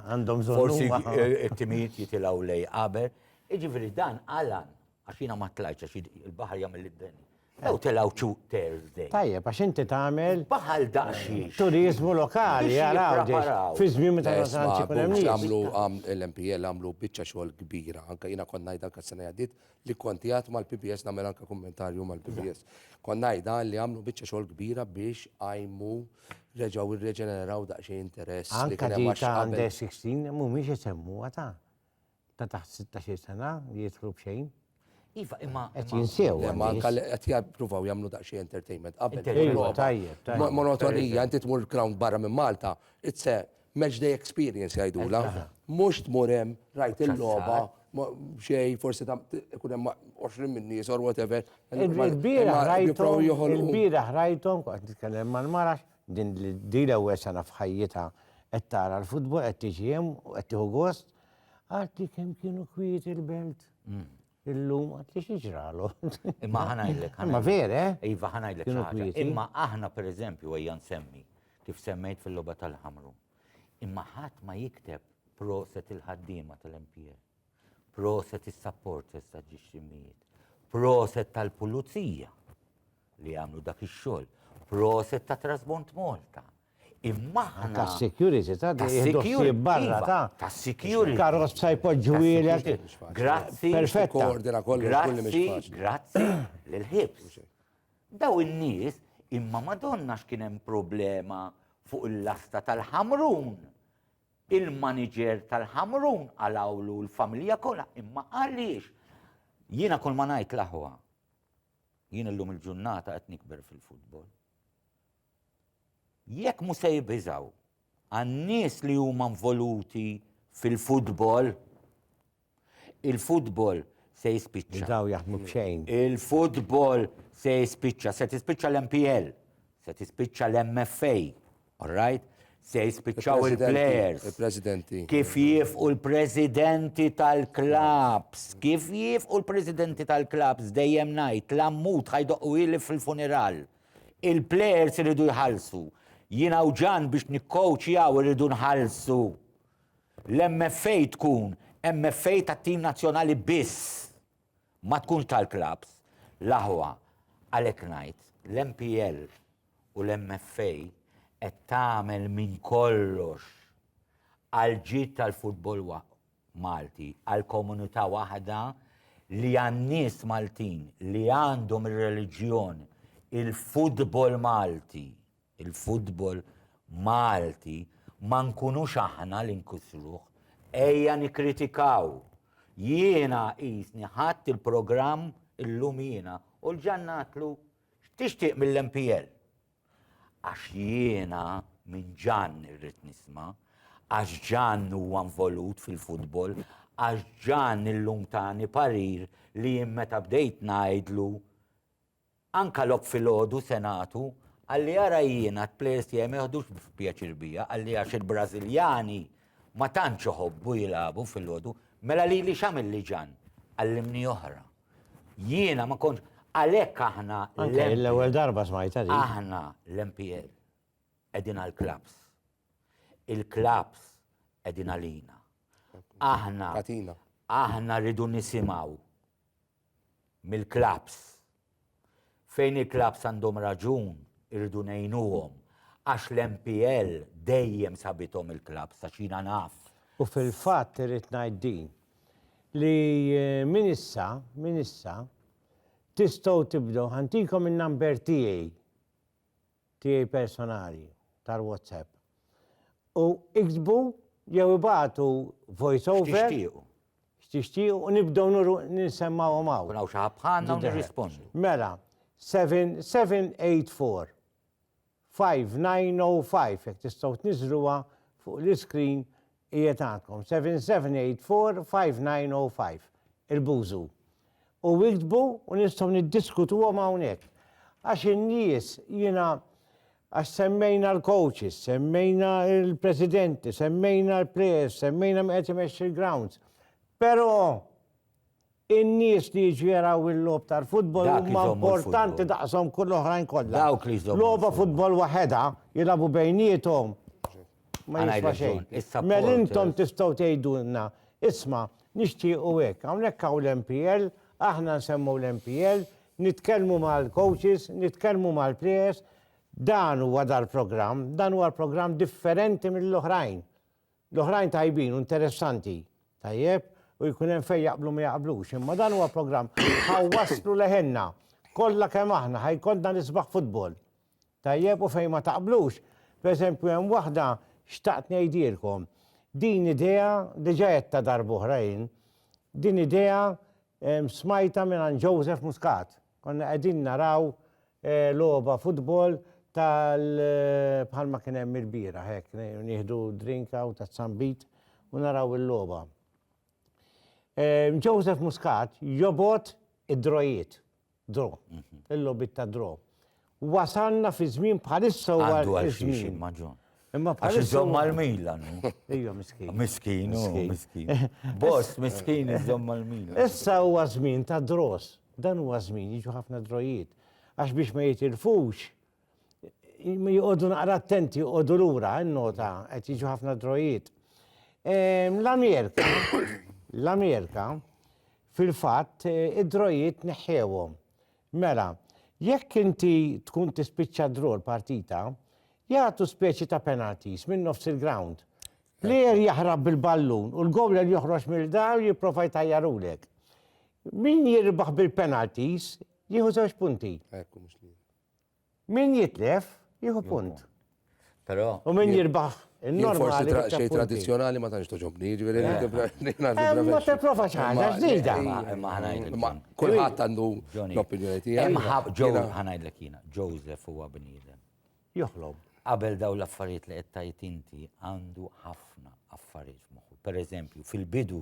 Għandhom Forsi t-timijiet jitilgħu lej qabel. Iġifieri dan għalan Għax jiena ma tlajtx għax il-baħar jagħmel li d-deni. Ew telgħu two Thursday. Tajjeb, għax inti tagħmel. Baħal daqsxiex. Turizmu lokali, jaraw. Fi żmien meta nasanċi kun hemm. Għamlu l-MPL għamlu biċċa xogħol kbira. Anka jiena kont ngħid anka sena jgħaddit li kont jgħat mal-PBS nagħmel anka kummentarju mal-PBS. Kont ngħidha li għamlu biċċa xogħol kbira biex għajmu reġgħu irreġeneraw daqsxejn interess. Anka dik għandha 16 mhumiex isemmu għata. ta' taħt 16 sena li jidħlu b'xejn. Iva, imma. Qed jinsew. Imma qed jippruvaw jagħmlu daqsxejn entertainment qabel. Monotonija, inti tmur ground barra minn Malta, it's a match day experience jgħidula. Mhux tmur hemm rajt il-logħba xej forsi ta' ikun hemm 20 minn nies or whatever. Il-bira ħrajthom, il-bira ħrajthom, qed nitkellem mal-marax, Din di l-ewwel sena f'ħajjitha qed tara l-futbol, qed tiġi hemm u qed tieħu gost. Għadti kemm kienu kwiet il-belt. Illum għad li xieġralu. Imma ħanajlek. Imma vere? Eh? Iva ħanajlek. Imma aħna per eżempju għajja nsemmi kif semmejt fil-loba tal-ħamru. Imma ħadd ma jikteb proset il-ħaddiema tal-MPL. Proset is-supporters ta' ġiex l-immijiet. Proset tal-pulizija li għamlu dak ix-xogħol. Proset ta' Trasbont Malta. Imma aħna. Ta' security ta' security barra iva, ta' ta' security. Karos ta' jpoġġu ilek. Grazzi. Perfetta. Grazzi. Grazzi. L-ħibs. Daw in-nies imma madonna x'kien hemm problema fuq il-lasta tal-ħamrun Il-maniġer tal-Ħamrun qalgħulu l-familja kollha imma għaliex? Jiena kull ma ngħid l-aħwa, jien illum il-ġurnata qed nikber fil-futbol. Jekk mhu se jibiżgħu għan-nies li huma involuti fil-futbol, Il-futbol se jispiċċa. Bdew jaħdmu b'xejn. Il-futbol se jispiċċa, se tispiċċa l-MPL, se tispiċċa l-MFA, all right? Se jispiċċaw il-players. Il-presidenti. Kif jifqu l-presidenti tal-klabs, kif jifqu l-presidenti tal-klabs dejjem ngħid l-ammut ħajdoqqu ili fil-funeral. Il-players iridu jħallsu. Jiena u ġan biex nikkowċjaw iridu nħallsu. L-MFA tkun MFA tat-tim nazzjonali biss, ma tkunx tal-klabbs. L-aħwa, għalhekk ngħid, l-MPL u l-MFA qed tagħmel minn kollox għall-ġid tal-futbol Malti, għal komunità waħda li għan-nies Maltin li għandhom ir-reliġjon, il-futbol Malti. il-futbol Malti ma nkunux aħna li nkissruh. Ejja nikkritikaw. Jiena qisni ħadt il-programm illum jiena u l-Ġann għadtlu x'tixtieq mill-MPL? Għax jiena minn Ġann irrid nisma', għax Ġann huwa nvolut fil-futbol, għax Ġann illum tani parir li jien meta bdejt ngħidlu Anka lok filgħodu se nagħtu, għalli ara jiena t-plejers tiegħi ma joħdux pjaċir bija, għalli għax il-Brażiljani ma tantx iħobbu jilagħbu filgħodu, mela lili x'għamilli Ġann? Għallimni oħra. Jiena ma kontx għalhekk aħna Anke l-ewwel darba smajtha din. Aħna l-MPL qegħdin għall-klabbs. Il-klabbs qegħdin għalina. Aħna Tatina. aħna rridu nisimgħu mill-klabbs. Fejn il-klabbs għandhom raġun irridu ngħinuhom għax l-MPL dejjem sabithom il-klabbs għax jiena naf. U fil-fatt irrid ngħid din, li minn issa, minn issa, tistgħu tibdew, ħa ntikom in-number tiegħi. tiegħi personali tal-WhatsApp u iktbu jew ibagħtu voice over. X'tixtiequ. X'tixtiequ u nibdew ninsemmawhom hawn. Kun hawn xi ħadd bħalna u nirrispondu. Mela, 7784 5905 jekk tistgħu tniżżluha fuq l-iskrin Qiegħed għandkom, 77845905, il-Buzu. U iktbu u nistgħu niddiskutuhom hawnhekk. Għax in-nies jiena għax semmejna l-coaches, semmejna l-presidenti, semmejna l-players, semmejna min qed imexxi l-grounds. Però In-nies li jiġu jaraw il-logħob tal-futbol Dak huma iżommu l-futbol. importanti daqshom kull oħrajn kollha. Dawk li jżommu Logħba l-futbol. futbol waħedha jilagħbu bejniethom ma Għandha jiswa raġun, xejn. is-supporters. Mel intom tistgħu tgħidulna, isma', nixtiequ hekk, hawnhekk hawn l-MPL, aħna nsemmu l-MPL, nitkellmu mal-coaches, nitkellmu mal-players, dan huwa dal-programm, dan huwa l-programm differenti mill-oħrajn. L-oħrajn tajbin u interessanti, tajjeb, u jkun hemm fejn jaqblu ma jaqblux, imma dan huwa programm ħa wasslu leħenna kollha kemm aħna ħa jkollna l-isbaħ futbol. Tajjeb u fejn ma taqblux, pereżempju hemm waħda xtaqt ngħidilkom. Din idea diġà għedtha darb'oħra jien. Din idea smajtha mingħand Joseph Muscat. Konna qegħdin naraw logħba futbol tal bħalma kien hemm il-bieraħ hekk, nieħdu drink hawn ta' Zambit u naraw il-logħba. Joseph Muscat jobgħod id-drojiet, draw, il-logħbiet ta' draw. Wasalna fi żmien bħalissa huwa Għandu għal xiex iż-żmien. imma John. Imma Għax bħalissa iżomm huwa- mal-Milan. hu. Ejja miskin. Miskin, hu, Miskin. miskin. Boss, miskin iżomm mal-Milan. Issa huwa żmien ta' draws. Dan huwa żmien jiġu ħafna drojiet. Għax biex ma jitilfux j- joqogħdu naqra attenti, joqogħdu lura, innota qed jiġu ħafna drojiet. Ehm, L-Amerika, l-Amerika fil-fatt eh, id-drojiet neħħewhom. Mela, jekk inti tkun tispiċċa draw l-partita, jagħtu speċi ta' penalties minn nofs il-ground. Plejer jaħrab bil-ballun u l-gowler joħroġ mill-dar u jipprova jtajjarulek. Min jirbaħ bil-penalties jieħu żewġ punti. Ekku mhux li. Min jitlef, jieħu punt. Però. U min jirbaħ. Forsi xej tradizjonali ma tantx toġobni, ġifieri Ma tipprova xi ħaġa ġdida. Kulħadd għandu l-opinjoni tiegħu. Ħanajdlek jiena, Joseph huwa bniedem. Joħlob. Qabel daw l-affarijiet li qed tgħid inti għandu ħafna affarijiet f'moħħu. Pereżempju, fil-bidu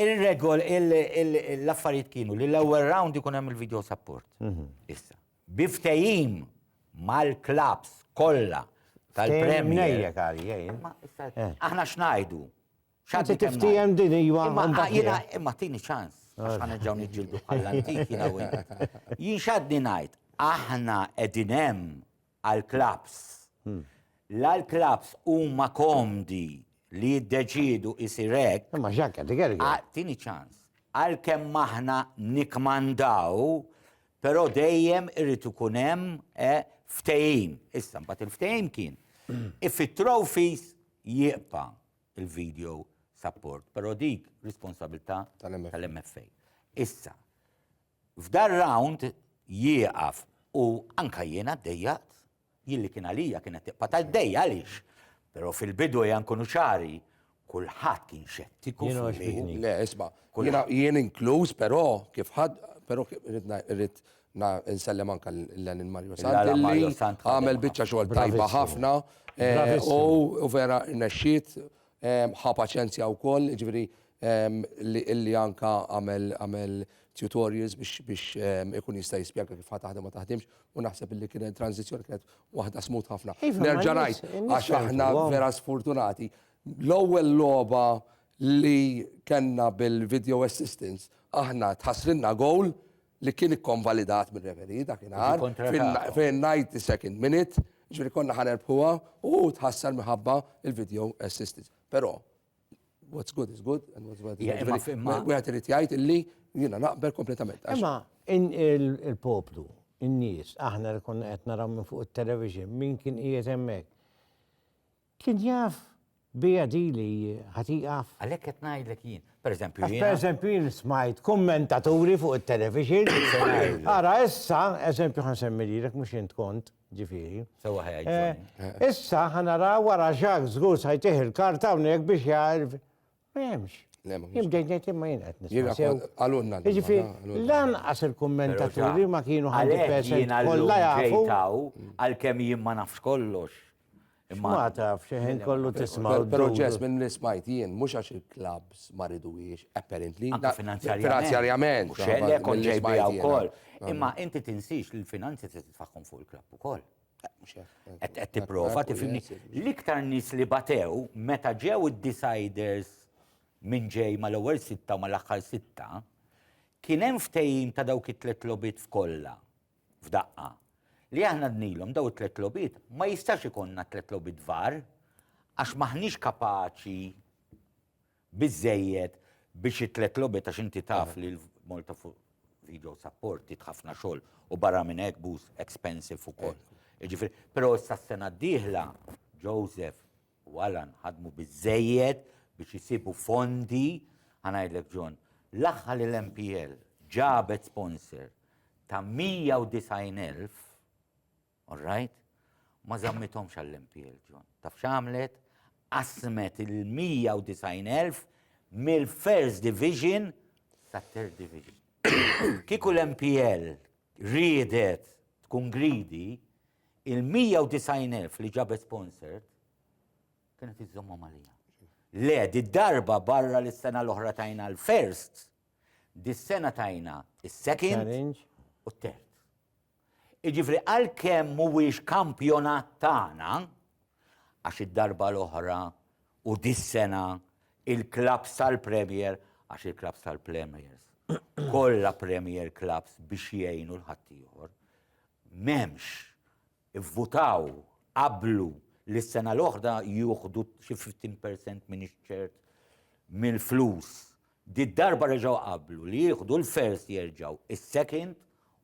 Ir-regol, l-affarijiet kienu li l-ewwel round ikun hemm il-video support. Mhm. Issa, bi ftehim mal-klabs kollha tal-Premier. Eh. Aħna x'ngħidu? X'għad tiftijem din iva. Imma tini ċans, għax ħana ġew niġġieldu bħall-antik jiena Jien x'għadni ngħid, aħna qegħdin hemm għall-klabbs. La l-klabbs huma komdi li jiddeċiedu isir hekk. Imma Jacques qed igerger. Ah, tieni ċans. Għalkemm aħna nikkmandaw, però dejjem irid ikun hemm eh, ftehim. Issa mbagħad il-ftehim kien. If it-trophies jieqpa il-video support, però dik responsabilità Tal-MFA. tal-MFA. Issa, F'dar round jieqaf u anka jiena ddejjaqt, jien li kien għalija kienet tiqpa' ta' jdejja għaliex? Però fil-bidu ejja nkunu ċari, kulħadd kien xettiku fih. Le isma', jien inkluż però kif ħadd, però rrid insellem anka lil Mario Sant li għamel biċċa xogħol tajba ħafna u vera rnexxiet Ħa paċenzja wkoll, jiġifieri li anke għamel tutorials biex ikun jista' jispjega kif ħa taħdem ma taħdimx u naħseb li kienet transizzjoni kienet waħda smooth ħafna. Iva, Nerġa' ngħid għax aħna vera sfortunati. L-ewwel logħba li kellna bil-video assistance aħna tħassrilna gowl li kien ikkonvalidat mir-referee dakinhar fin-90 second minute, ġifieri konna ħa nerbħuha u hu tħassar minħabba il-video assistance. Però what's good is good and what's bad is bad. Wieħed irid jgħid illi jiena naqbel kompletament. Imma il-poplu, in-nies, aħna li konna qed naraw minn fuq it-television, min kien qiegħed hemmhekk. Kien jaf biha di li ħa tieqaf? Għalhekk qed ngħidlek jien. Per eżempju jiena. Għax per eżempju jien smajt kummentaturi fuq it-television. Ara issa, eżempju ħa nsemmi lilek mhux int kont, ġifieri. Sewwa ħajja ġġorni. Issa ħa naraw wara Jacques żgur sajtih il-karta hawnhekk biex jgħid Ma hemmx. Jien bdejt ngħid imma jien qed nisma'. Għalunna. Jiġifieri lanqas il-kummentaturi ma kienu ħalli pesa kollha jafu. Għalkemm jien ma nafx kollox. Ma taf, xeħin kollu tisma. Proċess minn li smajt jien, mux għax il-klabs ma ridux, apparently. Finanzjarjament. Xelle, konġej bija u koll. Imma inti tinsix li l-finanzi se titfaħħom fuq il-klab u koll. Qed tipprova tifhimni. L-iktar nies li batew meta ġew id-deciders minn ġej mal-ewwel sitta u mal-aħħar sitta, kien hemm ftehim ta' dawk it-tliet logħbiet f'kollha f'daqqa. Li aħna dnilhom daw it-tliet logħbiet ma jistax ikollna tliet logħbiet var għax m'aħniex kapaċi biżżejjed biex it-tliet logħbiet għax inti taf li l-Malta fuq video support tit ħafna xogħol u barra minn hekk booth expensive ukoll. Jiġifieri, però issa s-sena d-dieħla Joseph u Alan ħadmu biżżejjed biex isibu fondi ħanajdlek John, l-aħħar li l-MPL ġabet sponsor ta' 190,000 All right? Ma zammithomx għall-MPL, John. Taf x'għamlet? Qasmet il-190,000 mill-First Division ta' Third Division. Kiku l-MPL riedet tkun gridi, il-190,000 li ġabet sponsored kienet iżommhom għalija. Le, di darba barra li s-sena l-oħra tajna l-first, di s-sena tajna il-second u t-third. Jiġifieri għalkemm mhuwiex kampjonat tagħna, għax id-darba l-oħra u dis-sena il-klabbs tal-Premier, għax il-klabbs tal-Premiers kollha Premier klabbs biex jgħinu 'l ħaddieħor, m'hemmx, ivvutaw, qablu li s-sena l-oħra jieħdu xi fifteen percent m'iniex ċert mill-flus Did-darba reġgħu qablu li jieħdu l-first jerġgħu s-second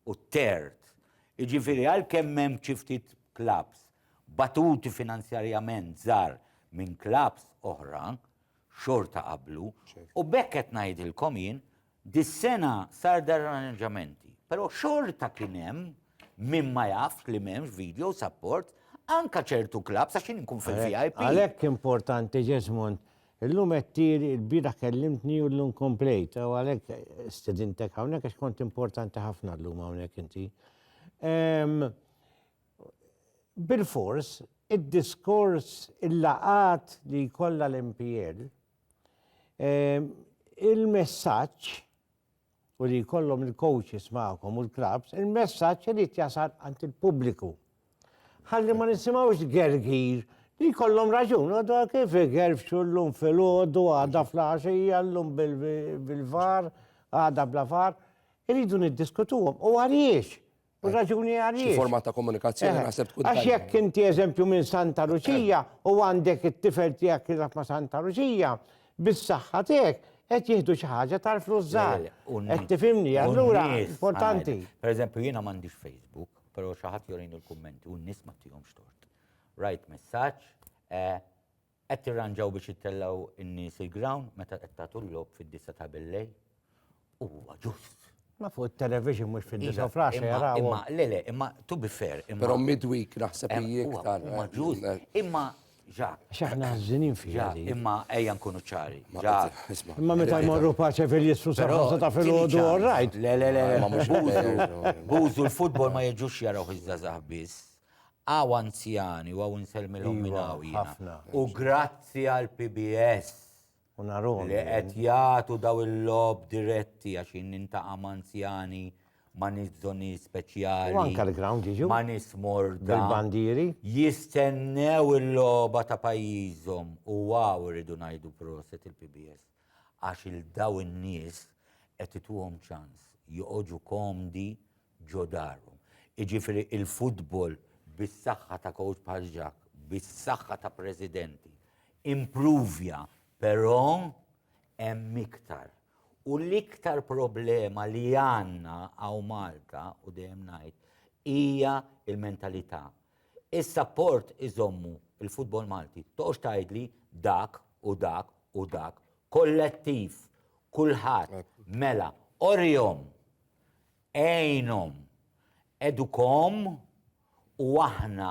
u t-third. Jiġifieri għalkemm hemm xi ftit klabbs batuti finanzjarjament żgħar minn klabbs oħra, xorta qablu u b'hekk qed ngħidilkom jien dis-sena sar darranġamenti. Però xorta kien hemm min ma jafx li m'hemmx video support anke ċertu klabbs għax jien inkun fil-VIP. Għalhekk importanti Ġesmond Illum qed tir, ilbieraħ kellimtni u llum komplejt, u għalhekk stedintek hawnhekk għax kont importanti ħafna llum hawnhekk inti. Bil-fors, id-diskors il-laqat li jkollha l-MPL, il-messaġġ u li jkollhom il-coaches magħkom u l-clubs, il-messaġġ irid jasal għand il-pubbliku. Ħalli ma nisimgħux gergir li jkollhom raġun, u da kif igerfxu llum filgħodu għadha fl-għaxija llum bil-var, għadha bla var, iridu niddiskutuhom u għaliex U raġuni għaliex. Xi format ta' komunikazzjoni eh, naħseb tkun. Għax jekk inti eżempju minn Santa Luċija u għandek it-tifel tiegħek jilgħab ma' Santa Luċija, bis-saħħa tiegħek qed jieħdu xi ħaġa tal-flus żgħar. Qed tifhimni, allura importanti. Pereżempju jiena m'għandix Facebook, però xi ħadd jorin il-kummenti u n-nies ma tihomx tort. Rajt messaġġ eh, Qed tirranġaw biex ittellgħu n-nies il-ground meta qed tagħtu l-logħob fid-disgħa ta' billejl? Huwa ġust. Ma fuq it-television mhux fid-disgħa u fl-għaxra jarawhom. Imma, imma, le, le, imma to be fair, imma. Però midweek naħseb hi iktar. Huwa ġust. Imma, Jacques. Għax aħna ħażinin fiha din. Imma ejja nkunu ċari. Jacques. Imma meta jmorru pace fil-jisru sa ħamsa ta' filgħodu all right. Le, le, le, le, ma mhux bużu. Bużu l-futbol ma jiġux jarawh iż-żgħażagħ biss. Hawn anzjani u hawn insellmilhom minn hawn jiena. U grazzi għal PBS li qed jagħtu daw il-logħob diretti għax jien nintaqa' ma' anzjani ma' nies bżonnijiet speċjali. U anke l-ground jiġu. Ma' nies morda. Bil-bandieri. Jistennew il-logħba ta' pajjiżhom u hawn irridu ngħidu proset il-PBS għax 'il dawn in-nies qed ituhom ċans joqogħdu komdi ġo darhom. Jiġifieri l-futbol bis-saħħa ta' kowċ bħal Jacques, bis-saħħa ta' presidenti, impruvja, però hemm iktar. U l-iktar problema li għandna hawn Malta, u dejjem ngħid, hija l-mentalità. Is-sapport iżommu l-futbol Malti. Toqgħodx tgħidli dak u dak u dak. Kollettiv, kulħadd, mela, orihom Għinhom, edukhom u aħna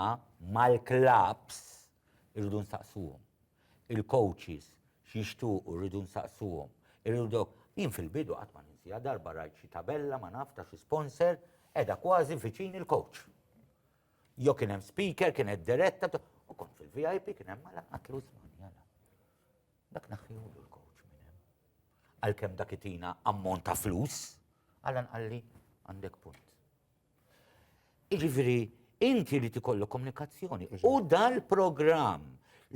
mal-klabbs irridu nsaqsuhom. Il-coaches x'jixtuqu rridu nsaqsuhom. Irridu Jien fil-bidu qatt ma ninsiha darba rajt xi tabella ma naf ta' xi sponsor qiegħda kważi viċin il-coach. Jo kien hemm speaker, kienet diretta, u kont fil-VIP kien hemm mala qattlu isma' Dak naħħihulu l-coach minn hemm. Għalkemm dak itina ammont ta' flus, għalan qalli għandek punt. Iġifieri inti li tikollok komunikazzjoni. U dal-programm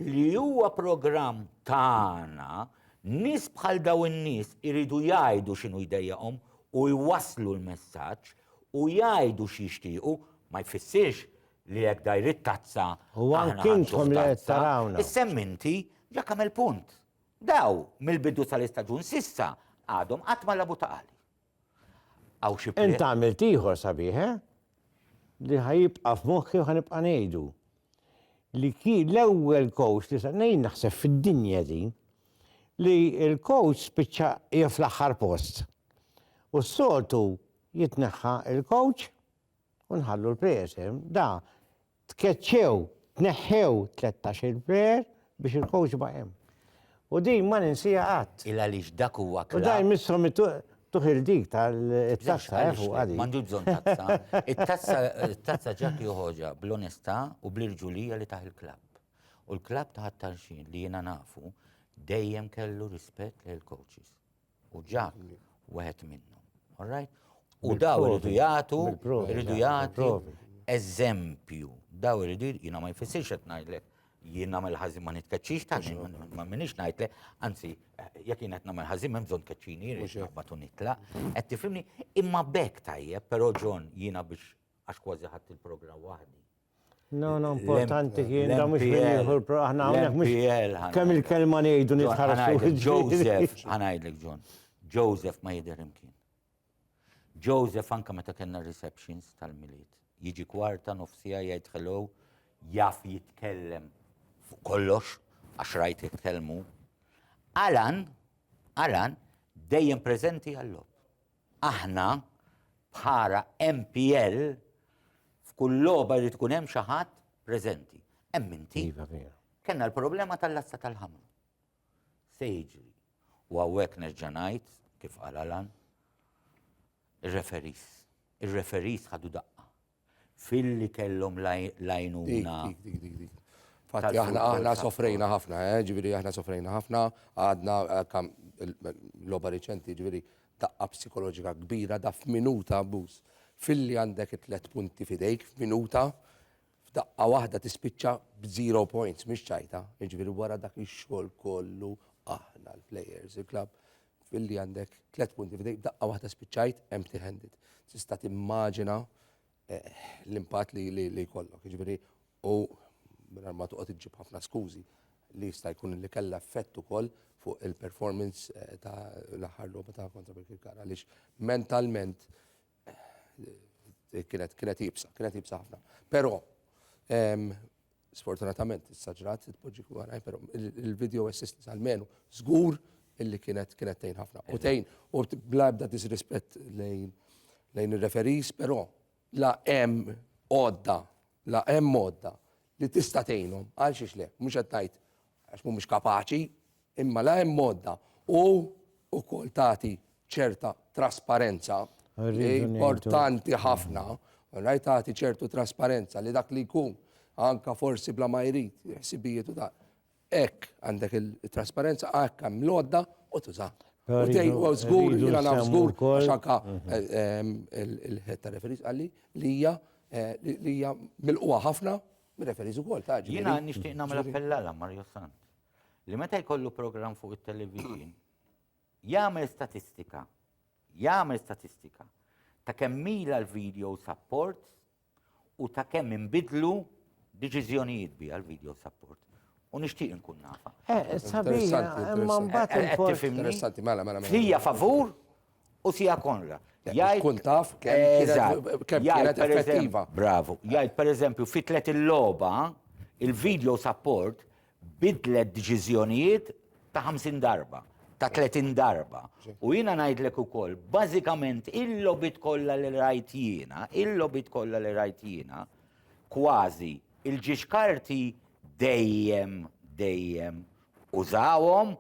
li huwa programm tagħna nis bħal daw in-nies iridu jgħidu x'inhu jdejjaqhom u jwaslu l-messaġġ u jgħidu x'jixtiequ ma jfissirx li jekk dajr it-tazza. U anki intom li qed tarawna. Is-semminti ġa kamel punt. Daw mill-bidu tal-istaġun s'issa għadhom qatt ma lagħbu ta' qali. Hawn xi Int għamilt ieħor sabiħ, eh? Li ħajibqa' f'moħħi u ħanibqa' ngħidu. Li kien l-ewwel coach li ngħid naħseb fid-dinja din li l-coach spiċċa hija fl-aħħar post. U s-soltu jitneħħa l-coach u nħallu l-presim, da tkeċċew, tneħħew tlettax il-per biex il-coach ma' hemm. U din ma ninsija qatt. Il għaliex dak huwa klabb. U daj missom tuħil dik tal-tazza eh, fuq għadi. Mandu bżon tazza. Il-tazza ġak joħoġa bl-onesta u bl-irġulija li taħ il-klabb. U l-klabb taħ tarxin li jena nafu dejjem kellu rispett l coaches U ġak wieħed minnhom. All right? U daw irridu jagħtu, irridu jagħtu eżempju. Daw irridu jiena ma jfissirx qed ngħidlek jien nagħmel ħażin ma nitkeċċix ta' ma minix ngħidlek, anzi jekk jien qed nagħmel ħażin hemm bżonn tkeċċini jrid naqbad u nitlaq. Qed tifhimni imma bekk tajjeb, però John jiena biex għax kważi ħadd il-programm waħdi. No, no, importanti kien da mux mill-ieħor, aħna għamnek mux. Kemm il-kelma ngħidu nitħarsu. Joseph, ħanajdlek John, Joseph ma jidher imkien. Joseph anka meta kellna receptions tal-miliet. Jiġi kwarta nofsija jgħid hello, jaf jitkellem fuq kollox, għax rajt jitkellmu. Alan, Alan, dejjem preżenti għall-lob. Aħna, bħala MPL, f'kull logħba jrid ikun hemm xi ħadd preżenti. Hemm inti. Iva, vera. Kenna l-problema tal-lassa tal-ħamru. Se jiġri. U għawek nerġa' ngħid, kif qal Alan, ir-referis. Ir-referis ħadu daqqa. Filli kellhom l-għajnuna. Fatti aħna aħna sofrejna ħafna, eh, ġifieri aħna sofrejna ħafna, għadna l-loba riċenti ġifieri taqqa psikoloġika kbira da f'minuta abbuż. Filli għandek it-tlet punti fidejk f'minuta f'daqqa waħda tispiċċa b'zero points, mhix ċajta, ġifieri wara dak ix-xogħol kollu aħna l-players, il-klab. billi għandek tliet punti f'idejk b'daqqa waħda spiċċajt empty handed. Tista' timmaġina eh, l-impatt li li li jkollok. Jiġifieri u mingħajr ma toqgħod iġġib ħafna skużi li jista' jkun li kellha effett ukoll fuq il-performance eh, ta' l-aħħar logħba ta' kontra Birkirkar għaliex mentalment eh, kienet kienet jibsa, kienet jibsa ħafna. Però ehm, Sfortunatament, issa ġrat, tpoġġi għaraj, pero il-video assistance għal-menu, zgur illi kienet kienet tejn ħafna. U tejn, u bla ebda disrispett lejn lejn il-referis, pero la em odda, la em odda li tista' tejnhom għal xiex le, mhux qed ngħid għax mhumiex kapaċi, Imma la hemm għodda u wkoll tagħti ċerta trasparenza li importanti ħafna, rajt tagħti ċertu trasparenza li dak li jkun anka forsi bla ma jrid ħsibijiet u ta' hekk għandek il-trasparenza hekk hemm l-għodda u tuża. U tgħid u żgur jiena naf żgur għax anka il-ħed ta' referis qalli li hija li hija milquha ħafna mir-referis ukoll ta' Jiena nixtieq nagħmel appell għal Mario Sant. li meta jkollu programm fuq it-television, jagħmel statistika, jagħmel statistika ta' kemm mila l-video support u ta' kemm inbidlu deċiżjonijiet bi għal-video support. U nixtieq nkun nafa. Eh, sabiħ, imma mbagħad. Eh, eh, eh, tifimni? Mela, mela, mela. Hija favur U Sija Konra. Jgħid kun taf kemm kienet effettiva. Bravu. Jgħid pereżempju fi tlet il-logħba il-video support bidlet deċiżjonijiet ta' 50 darba, ta' 30 darba. U jiena ngħidlek ukoll, bażikament il-lobit kollha li rajt jiena, il-lobit kollha li rajt jiena, kważi il-ġiex karti dejjem, dejjem użawhom,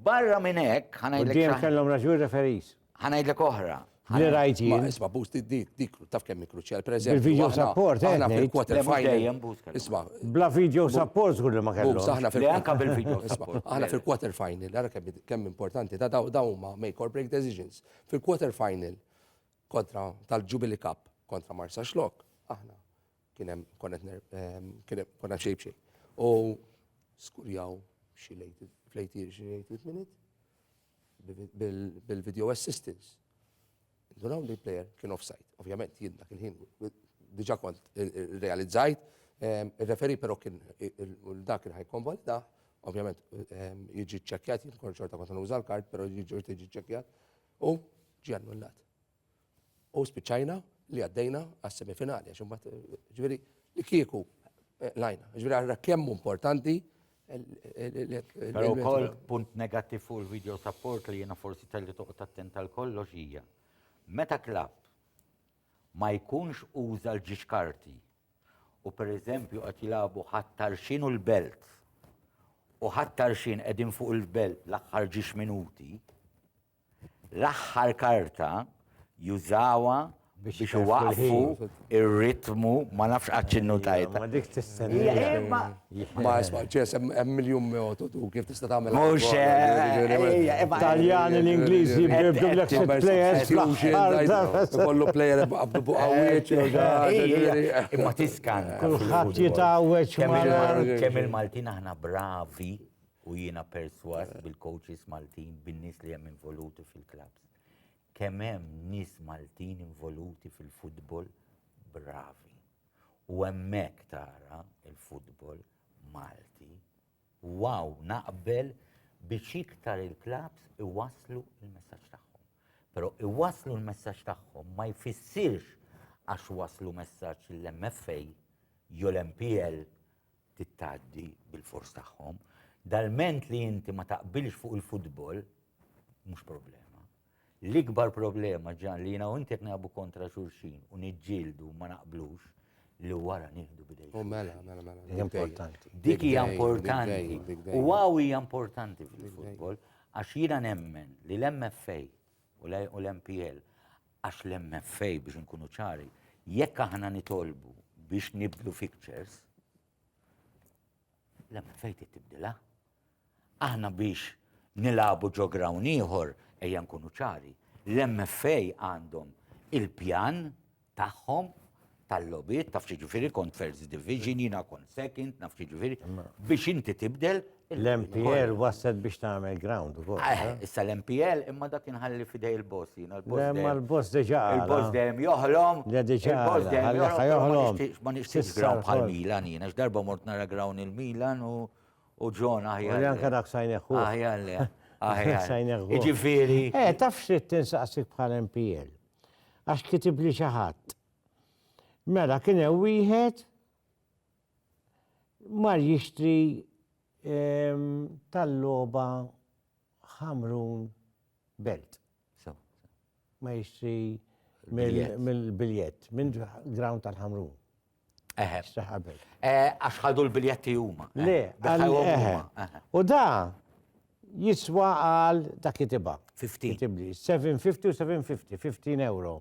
barra minn hekk ħa ngħidlek. Quddiem kellhom raġun referees. Ħa ngħidlek oħra. Li rajt jien. Isma' Boost dik taf kemm kruċjal preżent. Il-video support, eh? Aħna fil-quarter final. Isma'. Bla video support żgur li ma kellhom. Aħna fil anka bil-video support. Aħna fil-quarter final, ara kemm importanti ta' daw huma make or break decisions. Fil-quarter final kontra tal-Jubilee Cup kontra Marsa Xlok, aħna Kien hemm konna konna xejn b'xejn. U skurjaw xi lejt flejtir xi lejt minute bil-video assistance. Dunaw li player kien offside. Ovvjament, jien dak il-ħin, diġa kont realizzajt, il-referi pero kien dak il-ħaj konvolida, ovvjament jġi ċekjat, jien kont xorta kont nuża l-kart, pero jġi ċekjat, u ġi annullat. U spiċċajna li għaddejna għas-semifinali, għax imbagħad ġifieri li kieku lajna. Ġifieri għarra kemm importanti Però wkoll punt negattiv fuq il-video support li jiena forsi telli toqgħod attent għal kollox hija. Meta klabb ma jkunx uża l-ġiex karti u pereżempju qed jilagħbu ħattar x'inhu l-belt u ħattar x'in qegħdin fuq il-belt l-aħħar ġiex minuti, l-aħħar karta jużawha biex iwaqqfu ir-ritmu ma nafx qatt x'innutajt. Ma dik tistenna. Ma isma' ċes hemm miljun metodu kif tista' tagħmel. Mhux Taljani l-Ingliżi jibdu l-ek players. Kollu player qabdu fuq għawieċ. Imma tiskan. Kulħadd jitgħawweġ. Kemm il-Maltin aħna bravi. U jiena persważ bil-coaches Maltin, bin-nies li hemm involuti fil-clubs. Kemm hemm nies Maltin involuti fil-futbol bravi. U hemmhekk tara il-futbol Malti. U wow, naqbel biex iktar il-clubs iwasslu il-messaġġ tagħhom. Però iwasslu l-messaġġ tagħhom ma jfissirx għax waslu messaġġ l-MFA jew l-MPL tittgħaddi bil-fors tagħhom. Dal-ment li inti ma taqbilx fuq il-futbol, mhux problema. L-ikbar problema ġan li jiena u inti qed nagħbu kontra xulxin u niġġieldu ma naqblux li wara nieħdu bidej. U mela, mela, mela. mela. Importanti. Dik hija importanti. U għaw hija importanti fil-futbol għax jiena nemmen li l-MFA u l-MPL Għax l-MFA biex inkunu ċari, jekk aħna nitolbu biex nibdlu fixtures, l-MFA tibdilha. Aħna biex nilabu ġo grawn ieħor ejja nkunu ċari, l-MFA għandhom il-pjan tagħhom tal-lobit, taf ġifiri kont first division, jina kont second, naf ġifiri, biex inti tibdel. L-MPL wasset biex tagħmel ground ukoll. Eh, eh? Issa l-MPL imma dak inħalli fidej il-boss jina l-boss. Imma l-boss deġa. Il-boss dejjem joħlom. Le deġa. Il-boss dejjem joħlom. Ma nixtiex ground bħal Milan jina, x'darba mort nara ground il-Milan u u ġon aħjar. Li anka dak sajneħu. Aħjar le. Aħjar sajneħu. Iġifiri. Eh, taf xrit tinsaqsik bħal MPL. Għax kitib li xaħat. Mela kien hemm wieħed mar jixtri ehm, tal-logħba ħamrun belt. Ma jixtri mill-biljett, minn ground tal-ħamrun. Eħe. Eh, għax ħadu l-biljetti huma. Le, U da jiswa għal dak kitiba. 15. 750 u 750, 15 euro.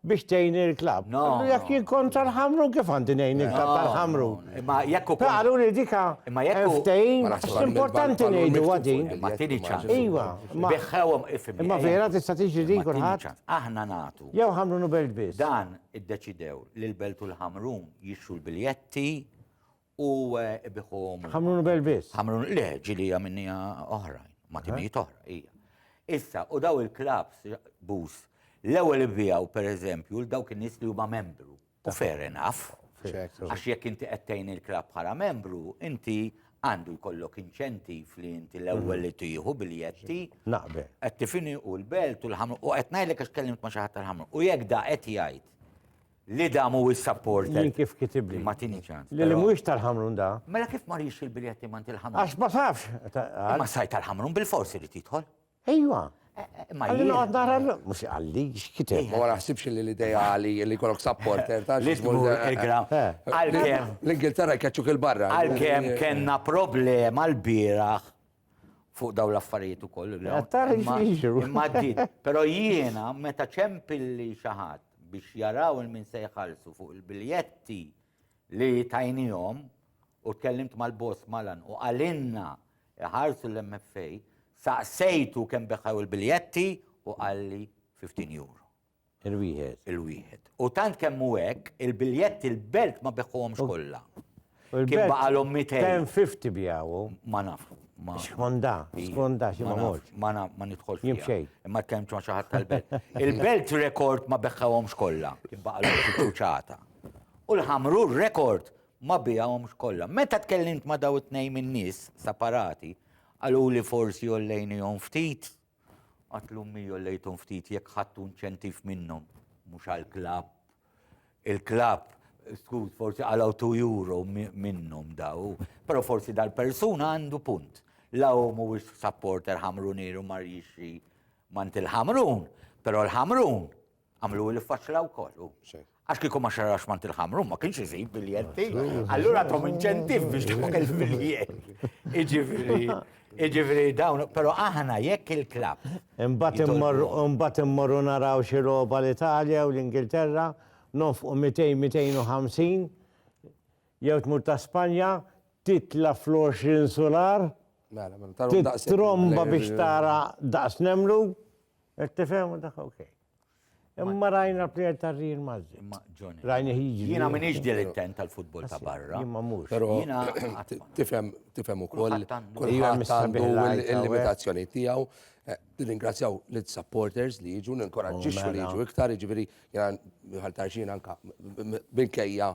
biex tgħin il-klab. No. Jekk jien kont tal-ħamrun kif għandi ngħin il-klab tal-ħamru. Imma jekk ukoll. Qalu li dika imma jekk ftejn importanti ngħidu għadin. Ma tieni ċans. Iva. Biħħewhom ifhem. Imma vera tista' tiġi din kulħadd. Aħna nagħtu. Jew ħamrun u belt biss. Dan iddeċidew li l-belt u l-ħamrun jixxu l-biljetti U ibiħu. Ħamrun u Belvis. Ħamrun, le, ġili għamilnija oħrajn, ma timijiet oħra, ija. Issa, u daw il-klabs, bus, l-ewel ibijaw, per eżempju, l-daw kien nis li huma membru. U fair enough. Għax jekk inti qedtejn il-klab bħala membru, inti għandu jkollok inċentiv li inti l-ewwel li tieħu biljetti. Naqbe. Qed tifini u l-belt u l-ħamru u qed ngħidlek għax kellimt ma' xi ħadd tal-ħamru. U jekk da qed jgħid Li da mhuwiex supported. Jien kif kitibli. Ma tini ċans. Li li mhuwiex tal-Ħamrun da. Mela kif ma rix il-biljett imma int il-Ħamrun? Għax ma tafx. Imma sajt tal-Ħamrun bil-fors irid jidħol. Ejwa. Imma jien noqgħod nara mhux għalli x'kiteb. Ma naħsibx li l-idea għali li jkollok supporter ta' xi tmur il-gram. Għalkemm. L-Ingilterra jkeċċuk il-barra. Għalkemm kellna problema l-bieraħ fuq daw l-affarijiet ukoll. Imma din, però jiena meta ċempilli xi ħadd biex jaraw il-min se jħallsu fuq il-biljetti li tajnihom u tkellimt mal-boss malan u qalinna iħarsu l-MFA, saqsejtu kemm beħħew il-biljetti u qalli 15 euro. Il-wieħed. Il-wieħed. U tant kemm hu hekk, il-biljetti l-belt ma beħħuhomx kollha. Kien baqalhom 200. Kien 50 bjawu. Ma naf. Skonda, skonda, xi ma morx. Ma naf, ma nidħolx. Jien xejn. Imma tkellmt ma' xi ħadd tal-belt. Il-belt rekord ma beħħuhomx kollha. Kien baqalhom xi ċuċata. U l-ħamru rekord ma biegħhomx kollha. Meta tkellimt ma' daw it-tnejn min-nies separati, qaluli forsi ollejnihom ftit Qatt l-ummi jollejthom ftit jekk ħadtu inċentiv minnhom, mhux għall-klabb. Il-klabb, skuż, forsi għalaw 2 euro minnhom daw, però forsi dal-persuna għandu punt. La hu mhuwiex supporter ħamrunier u mar jixri mant il-ħamrun, però l-ħamrun Għamlu il-faċla u kollu. Għax kiku ma xarrax mant il-ħamru, ma kienx iżid biljetti. Allura tom inċentif biex tkun il-biljett. Iġifiri, iġifiri dawn, pero aħna jekk il-klab. Imbat immorru naraw xi roba l-Italja u l-Ingilterra, nofqu 200-250, jew tmur ta' Spanja, titla fl-20 solar, mela, mela, tromba biex tara daqs nemlu. Qed tifhem u dak ok. Imma rajna l-plejer ta' Real Madrid. Imma Johnny. Rajna jiġri. Jiena minix dilettent tal-futbol ta' barra. Imma mhux. Però Jiena tifhem tifhem ukoll Kulħadd għandu. kulħadd Iva, għandu mistabilħajt, għawek. l-limitazzjoni tiegħu. Eh, Nirringrazzjaw l-supporters li jiġu, ninkoraġġixxu li Mela. jiġu iktar, jiġifieri jiena ħaltarxin anka minkejja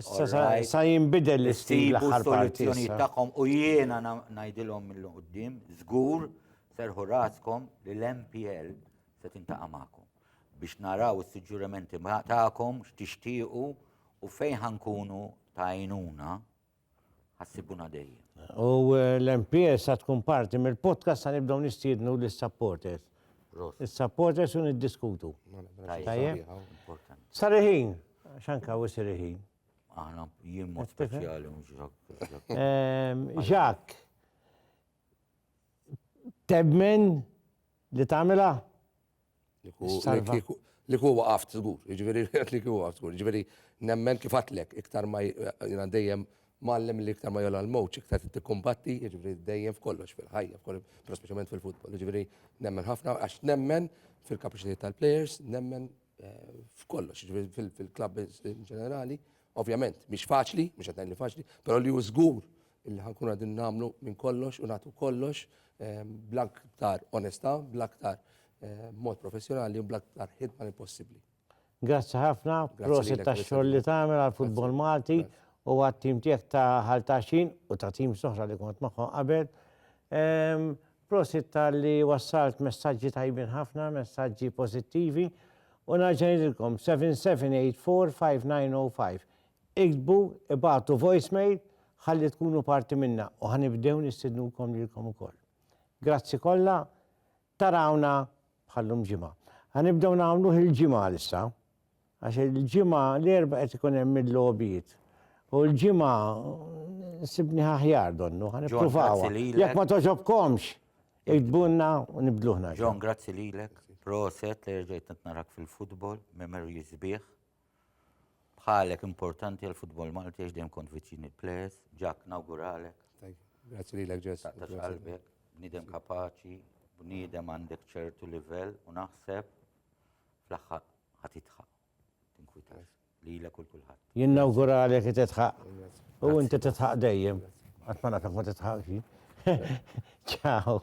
Sa jinbidel l-istil l-aħħar parti. tagħkom u jiena ngħidilhom mill qudiem żgur serħu raskom li l-MPL se tintaqa' magħkom biex naraw is-suġġurimenti tagħkom x'tixtiequ u fejn ħankunu ta' għajnuna ħassibuna dejjem. U l-MPS sa tkun parti mill-podcast sa nibdew nistiednu lis-supporters. Is-supporters u niddiskutu. Tajjeb. Sariħin, xanka u sariħin. Aħna jien mod speċjali mhux Jacques. Tebmen Li tagħmilha? Li ku- Salva. li kieku- Li ku waqaft żgur, jiġifieri qed li kieku waqaft żgur. Jiġifieri nemmen kif għadtlek, iktar ma j- jiena dejjem mgħallem li iktar ma jolgħa l-mowġ, iktar tikkumbatti, jiġifieri dejjem f'kollox, fil-ħajja, f'kollox, però speċjalment fil-futbol. Jiġifieri nemmen ħafna għax nemmen fil-kapaċitajiet tal-plejers, nemmen eh, f'kollox, jiġifieri fil- fil-klabb in ġenerali. Ovvjament, mhix faċli, mhux qed ngħid li faċli, però li hu żgur illi ħa nkunu qegħdin nagħmlu minn kollox u nagħtu kollox bl-aktar onestà, bl-aktar mod professjonali u bl-aktar ħidma li possibbli. Grazzi ħafna, prosit ta' xogħol li tagħmel għal futbol Malti u għat tim tiegħek ta' ħaltaxin u ta' tim soħra li kont magħhom qabel. Ehm, prosit ta' li wassalt messaġġi tajbin ħafna, messaġġi pożittivi u naġġajlilkom 7784 5905. Iktbu, ibagħtu voicemail ħalli tkunu parti minnha u ħa nibdew nistidnukom lilkom ukoll. Grazzi kollha, tarawna bħal lum ġimgħa. Ħa nibdew nagħmluh il-ġimgħa issa, għax il-ġimgħa l-erba' qed ikun hemm il-logħbiet. U l-ġimgħa sibni aħjar donnu, ħa nippruvaw. Jekk ma toġobkomx, iktbunna u nibdluħna. John, grazzi lilek. Proset li rġejt nitnarak fil-futbol, memories bih. Bħalek importanti għal futbol Malti għax dejjem kont viċin il-players, ġak nawguralek. Grazzi lilek ġess. Ta' qalbek, bniedem kapaċi, bniedem għandek ċertu livell u naħseb fl-aħħar ħatitħaq. Tinkwitas li l kull kulħadd. Jien nawguralek titħaq. U inti titħaq dejjem. Għatmana ta' ma titħaqx. Ciao.